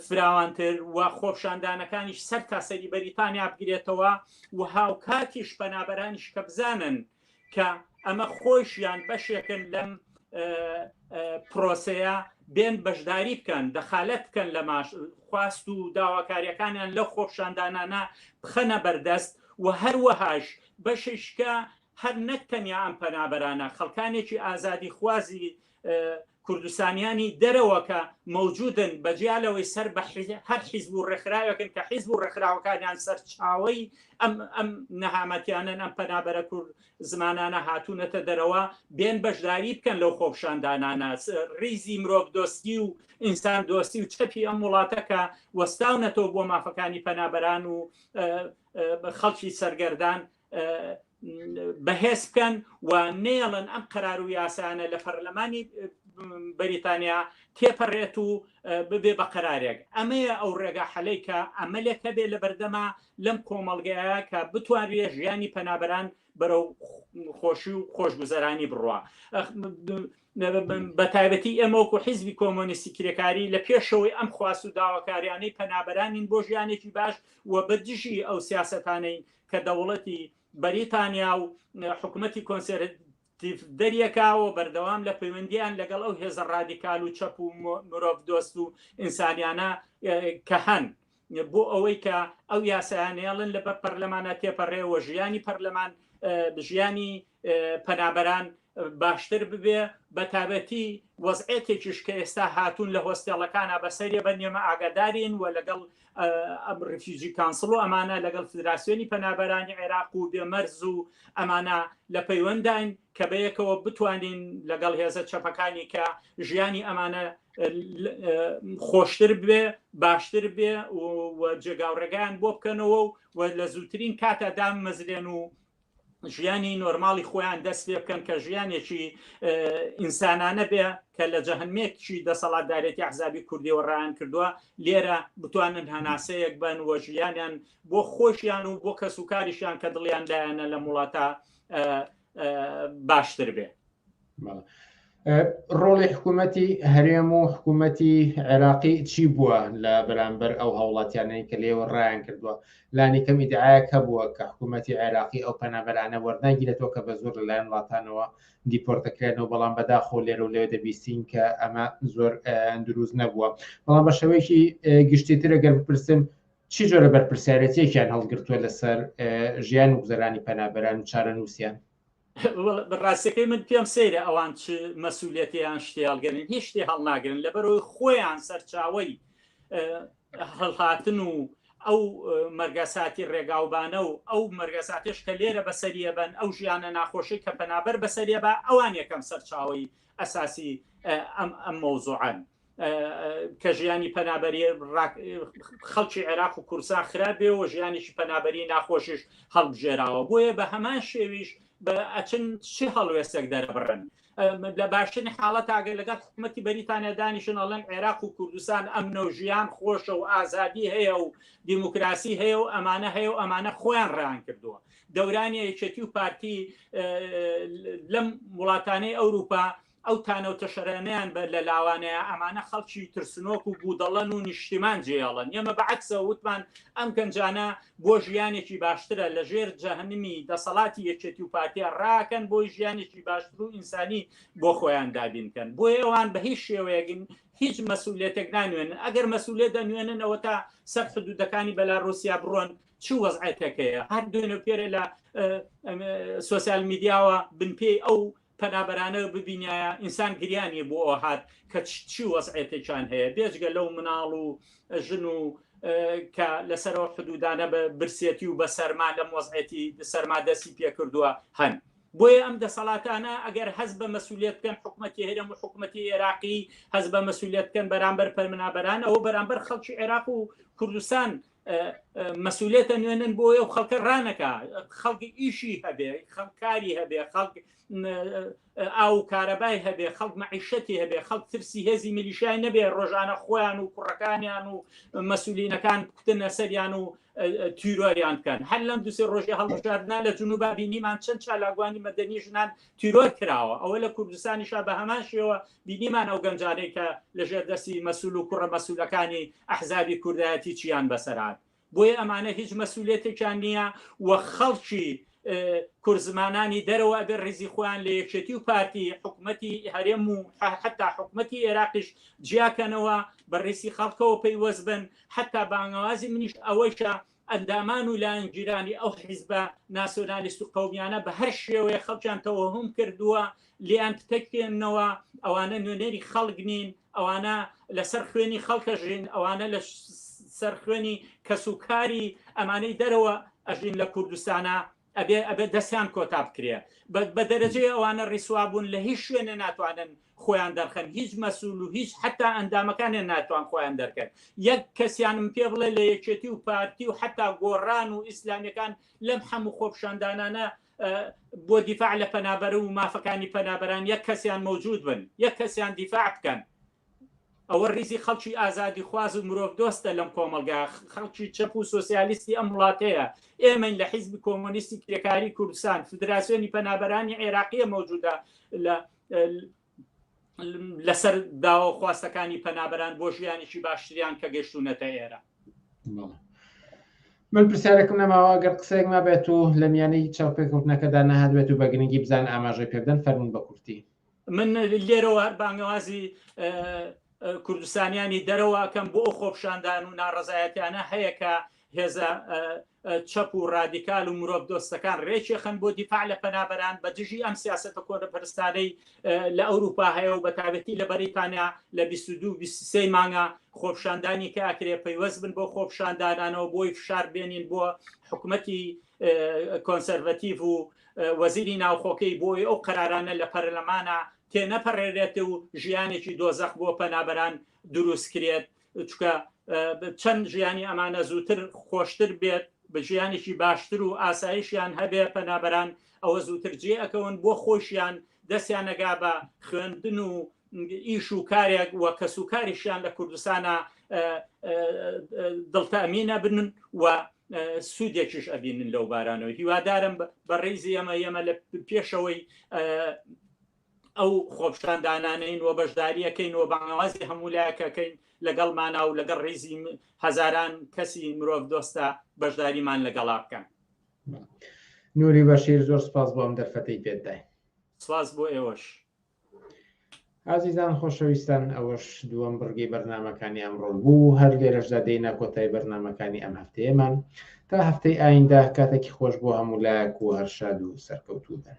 فراوانتر و خۆپشاندانەکانیش سەر تاسەری بەریتانیا بگرێتەوە و هاوکاتیش پەنابەرانیش کە بزانن کە ئەمە خۆیشیان بەشێکن لەم پرۆسەیە بێن بەشداری بکەن دەخالەت بکەن لە ماش خواست و داواکاریەکانیان لە خۆپشاندانانە بخەنە بەردەست و هەروەهاش بەششکە هەر نەک تەنیا ئەم پەنابەرانە خەڵکانێکی ئازادی خوازی کوردستانیانی دەرەوە کە مەوجودن بەجیا لەوەی سەر بە هەر حیزب و ڕێکخراوەکەن کە حیزب و ڕێکخراوەکانیان سەرچاوی ئەم ئەم نەهامەتیانن ئەم پەنابەرە کورد زمانانە هاتوونەتە دەرەوە بێن بەشداری بکەن لەو خۆپشاندانانە ریزی مرۆڤ دۆستی و ئینسان دۆستی و چەپی ئەم وڵاتەکە وەستاونەتەوە بۆ مافەکانی پەنابەران و خەڵکی سەرگەردان بەهێز بکەن و نێڵن ئەم قەرار و یاسانە لە پەرلەمانی بەریتانیا تێپەڕێت و ببێ بە قەرارێک ئەمەیە ئەو ڕێگا حەلەی کە ئەمەلێک هەبێ لە بەردەما لەم کۆمەڵگەیە کە بتوانرێ ژیانی پەنابەران بەرەو خۆشی و خۆشگوزەرانی بڕە بە تایبەتی ئەمەوەکو حیزبی کۆمۆنیستی کرێکاری لە پێشەوەی ئەم خواست و داواکاریانەی پەنابەرانین بۆ ژیانێکی باش و بە دژی ئەو سیاستانەی کە دەوڵەتی بەریتانیا و حکومەتی کۆنسێرەتیڤ دەریەکاوە بەردەوام لە پەیوەندیان لەگەڵ ئەو هێزە ڕادیکال و چەپ و مرۆڤ دۆست و ئینسانیانە کە هەن بۆ ئەوەی کە ئەو یاسایانێڵن لەبەر پەرلەمانە تێپەڕێ و ژیانی پەرلەمان ژیانی پەنابەران باشتر ببێ بەتابەتی وەزعێتێکیش کە ئێستا هاتوون لە هۆستێڵەکانە بەسەریە بە نێمە ئاگادارین و لەگەڵ ئەم ڕفیجی کانسڵ و ئەمانە لەگەڵ فدراسیۆنی پەنابەرانی عێراق و بێمەرز و ئەمانە لە پەیوەنداین کە بەیەکەوە بتوانین لەگەڵ هێزە چەپەکانی کە ژیانی ئەمانە خۆشتر بێ باشتر بێ و جێگاوڕێگەیان بۆ بکەنەوە و لە زووترین کاتە دام مەزرێن و ژیانی نۆرماڵی خۆیان دەست پێ بکەن کە ژیانێکی ئینسانانە بێ کە لە جەهنمێکی دەسەڵاتدارێتی عزابی کوردیەوە ڕایان کردووە لێرە بتوانن هەناسەیەک بن وە ژیانیان بۆ خۆشیان و بۆ کەس و کاریشیان کە دڵیان لایەنە لە وڵاتە باشتر بێ ڕۆڵی حکوومەتی هەرێم و حکوومەتی عێراقی چی بووە لە بەرامبەر ئەو هاوڵاتیانەی کە لێوە ڕایان کردووە لانی کەم ئیدعاەک هەبووە کە حکوومەتی عێراقی ئەو پەنابەرانە وەرناگیرێتەوە کە بە زۆر لەلایەن وڵاتانەوە دیپۆرتەکرێنەوە بەڵام بەداخۆ لێرە و لێ دەبیستین کە ئەمە زۆر دروست نەبووە بەڵام بە شێوەیەکی گشتی ترە گەر بپرسم چی جۆرە بەرپرسیارەتێکیان هەڵگرتووە لەسەر ژیان و گوزەرانی پەنابەران و چارە نووسیان ڕاستەکەی من پێم سەیرە ئەوان چ مەسوولەتیان شتی هەڵگەرن هیچ شتی هەڵناگرن لەبەرەوەی خۆیان سەرچاوی هەڵهاتن و ئەو مەرگەساتی ڕێگاوبانە و ئەو مەرگەساتش کە لێرە بەسەریە بن ئەو ژیانە ناخۆشی کە پەنابەر بەسەریە بە ئەوان یەکەم سەرچاوی ئەساسی ئەم ئەم مەوزوعان کە ژیانی پەنابەری خەڵکی عێراق و کورسان خراپ بێەوە ژیانێکی پەنابەری ناخۆشیش هەڵبژێراوە بۆیە بە هەمان شێویش بە ئەچن چی هەڵوێستێک دەرەبڕن لە باشترین حاڵەت ئاگەر لەگەڵ حکوومەتتی بەریتانیا دانیشن ئەڵەن عێراق و کوردستان ئەم نەوژیان خۆشە و ئازادی هەیە و دیموکراسی هەیە و ئەمانە هەیە و ئەمانە خۆیان ڕان کردووە دەورانی یەکێتی و پارتی لەم وڵاتانەی ئەوروپا ئەو تانە و تەشەرەنەیان بە لە لاوانەیە ئەمانە خەڵکی ترسنۆک و بودەڵەن و نیشتیمان جێێڵن ئێمە بە عەکسەوە وتمان ئەم گەنجانە بۆ ژیانێکی باشترە لە ژێر جەهنمی دەسەڵاتی یەکێتی و پارتیا ڕاکەن بۆی ژیانێکی باشتر و ئینسانی بۆ خۆیان دابینکەن بۆ ئێوان بە هیچ شێوەیەگن هیچ مەسوولێتێک نانوێنن ئەگەر مەسوولێت دەنوێننەوە تا سەر حدودەکانی بەلا رووسیا بڕۆن چ وەزعەتەکەیە هەر دوێنە پێرە لە سوسیال میدیاوە بنپێی ئەو پەنابەرانە ببینایە ئینسان گریا نیە بۆ ئەوە هات کە چی وەزعێتێکیان هەیە بێجگە لەو مناڵ و ژن و کە لەسەرەوە حدودانە بە برسێتی و بە سەرما لەم وەزعێتی سەرما دەستی پێکردووە هەن بۆیە ئەم دەسەڵاتانە ئەگەر هەز بە مەسوولێت بکەن حکوومەتی هەرێم و حکوومەتی عێراقی هەز بە مەسوولێت بکەن بەرامبەر پەرمنابەران ئەو بەرامبەر خەڵکی عێراق و کوردستان مەسولێتە نوێنن بۆ ئەو خەڵکە ڕانەکە خەڵکی ئیشی هەبێ خەڵکاری هەبێ خەڵک ئاو کارەبای هەبێ خەڵک مەعیشەتی هەبێ خەڵک ترسی هێزی میلیشای نەبێ ڕۆژانە خۆیان و کوڕەکانیان و مەسولینەکان بکتنە سەریان و تیرۆریان بکەن هەر لەم دوسێ ڕۆژی هەڵبژاردنا لە جنوب بینیمان چەند چالاگوانی مەدەنی ژنان تیرۆر کراوە ئەوە لە کوردستانیشا بە هەمان شێوە بینیمان ئەو گەنجانەی کە لە ژێر دەستی مەسول و کوڕە مەسولەکانی ئەحزابی کوردایەتی چیان بەسەر هات بۆیە ئەمانە هیچ مەسولیەتێکیان نییە و خەڵکی کورد زمانانی دەرەوە ئەبێ ڕیزی خۆیان لە یەکێتی و پارتی حکوومەتی هەرێم و حتا حکوومەتی عێراقیش جیاکەنەوە بە ڕیسی خەڵکەوە پەیوەست بن حتا بانگەوازی منیش ئەوەیشە ئەندامان و لایەنگیرانی ئەو حیزبە ناسیۆنالیست و قەومیانە بە هەر شێوەیە خەڵکیان تەوەهوم کردووە لێیان پتەکێننەوە، ئەوانە نوێنەری خەڵک نین، ئەوانە لە سەر خوێنی خەڵک ئەژین، ئەوانە لە سەر خوێنی کەس و کاری ئەمانەی دەرەوە ئەژین لە کوردستانا، ئەبێ ئەبێ دەستیان کۆتا بکرێ بە دەرەجەی ئەوانە ڕیسوابوون لە هیچ شوێنێ ناتوانن خۆیان دەرخەن هیچ مەسول و هیچ حتا ئەندامەکانیان ناتوان خۆیان دەرکەن یەک کەسیانم پێ بڵێ لە یەکێتی و پارتی و حتا گۆڕان و ئیسلامیەکان لەم هەموو خۆپشاندانانە بۆ دیفاع لە پەنابەر و مافەکانی پەنابەران یەک کەسیان مەوجود بن یەک کەسیان دیفاع بکەن ئەوە ریزی خەڵکی ئازادیخواز و مرۆڤ دۆستە لەم کۆمەڵگا خەڵکی چەپ و سۆسیالیستی ئەم وڵاتەیە ئێمەین لە حیزبی کۆمۆنیستی کرێکاری کوردستان فدراسیۆنی پەنابەرانی عێراقیە مەوجودە لە لەسەر داوە خواستەکانی پەنابەران بۆ ژیانێکی باشتریان کە گەشتونەتە ئێرە من پرسیارێکم نەماوە گەر قسەیەک ما بێت و لە میانەی چاوپێکوتنەکەدا نەهات بێت و بە گرنگی بزان ئاماژەی پێبدەن فەرمون بە کورتی من لێرەوە هەر بانگەوازی کوردستانیانی دەرەوەکەم بۆ ئەو خۆپشاندان و ناڕزایەتیانە هەیە کە هێزە چەپ و ڕادیکال و مرۆڤ دۆستەکان ڕێکێخن بۆ دیفاع لە پەنابەران بە دژی ئەم سیاستە کۆنەپەرستانەی لە ئەوروپا هەیە و بەتابەتی لە بەریتانیا لە 22 مانگە خۆپشاندانی کە ئەکرێ پەیوەست بن بۆ خۆپشاندانانەوە بۆی فشار بێنین بۆ حکوومەتی کۆنسەرڤەتیڤ و وەزیری ناوخۆکەی بۆی ئەو قەرارانە لە پەرلەمانا تێنەپەڕێرێت و ژیانێکی دۆزەخ بۆ پەنابەران دروست کرێت چکە چەند ژیانی ئەمانە زووتر خۆشتر بێت بە ژیانێکی باشتر و ئاسایشیان هەبێ پەنابەران ئەوە زووتر جێ ئەکەون بۆ خۆشیان دەستیانەگا بە خوێندن و ئیش و کارێک و کەس و کاریشیان لە کوردستانە دڵتەمینە بنن و سوودێکیش ئەبینن لەو بارانەوە هیوادارم بە ڕێزی ئەمە ئێمە لە پێشەوەی ئەو خۆپشاندانانین و بەشداریەکەین و بەناوازی هەموو لایەکەکەین لەگەڵ مانا و لەگەڵ ڕێزی هەزاران کەسی مرۆڤ دۆستە بەشداریمان لەگەڵا بکەن نوری بەشیر زۆر سپاس بۆم دەرفەتی پێدای سپاس بۆ ئێوەش ئازیزان خۆشەویستان ئەوەش دووەم بڕگەی بەرنمەکانی ئەمڕۆ بوو هەر لێرەشدا دێینە کۆتای بەرنمەکانی ئەم هەفتەیەمان تا هەفتەی ئایندە کاتێکی خۆش بۆ هەموو لایەک و هەرشاد و سەرکەوتوو بن.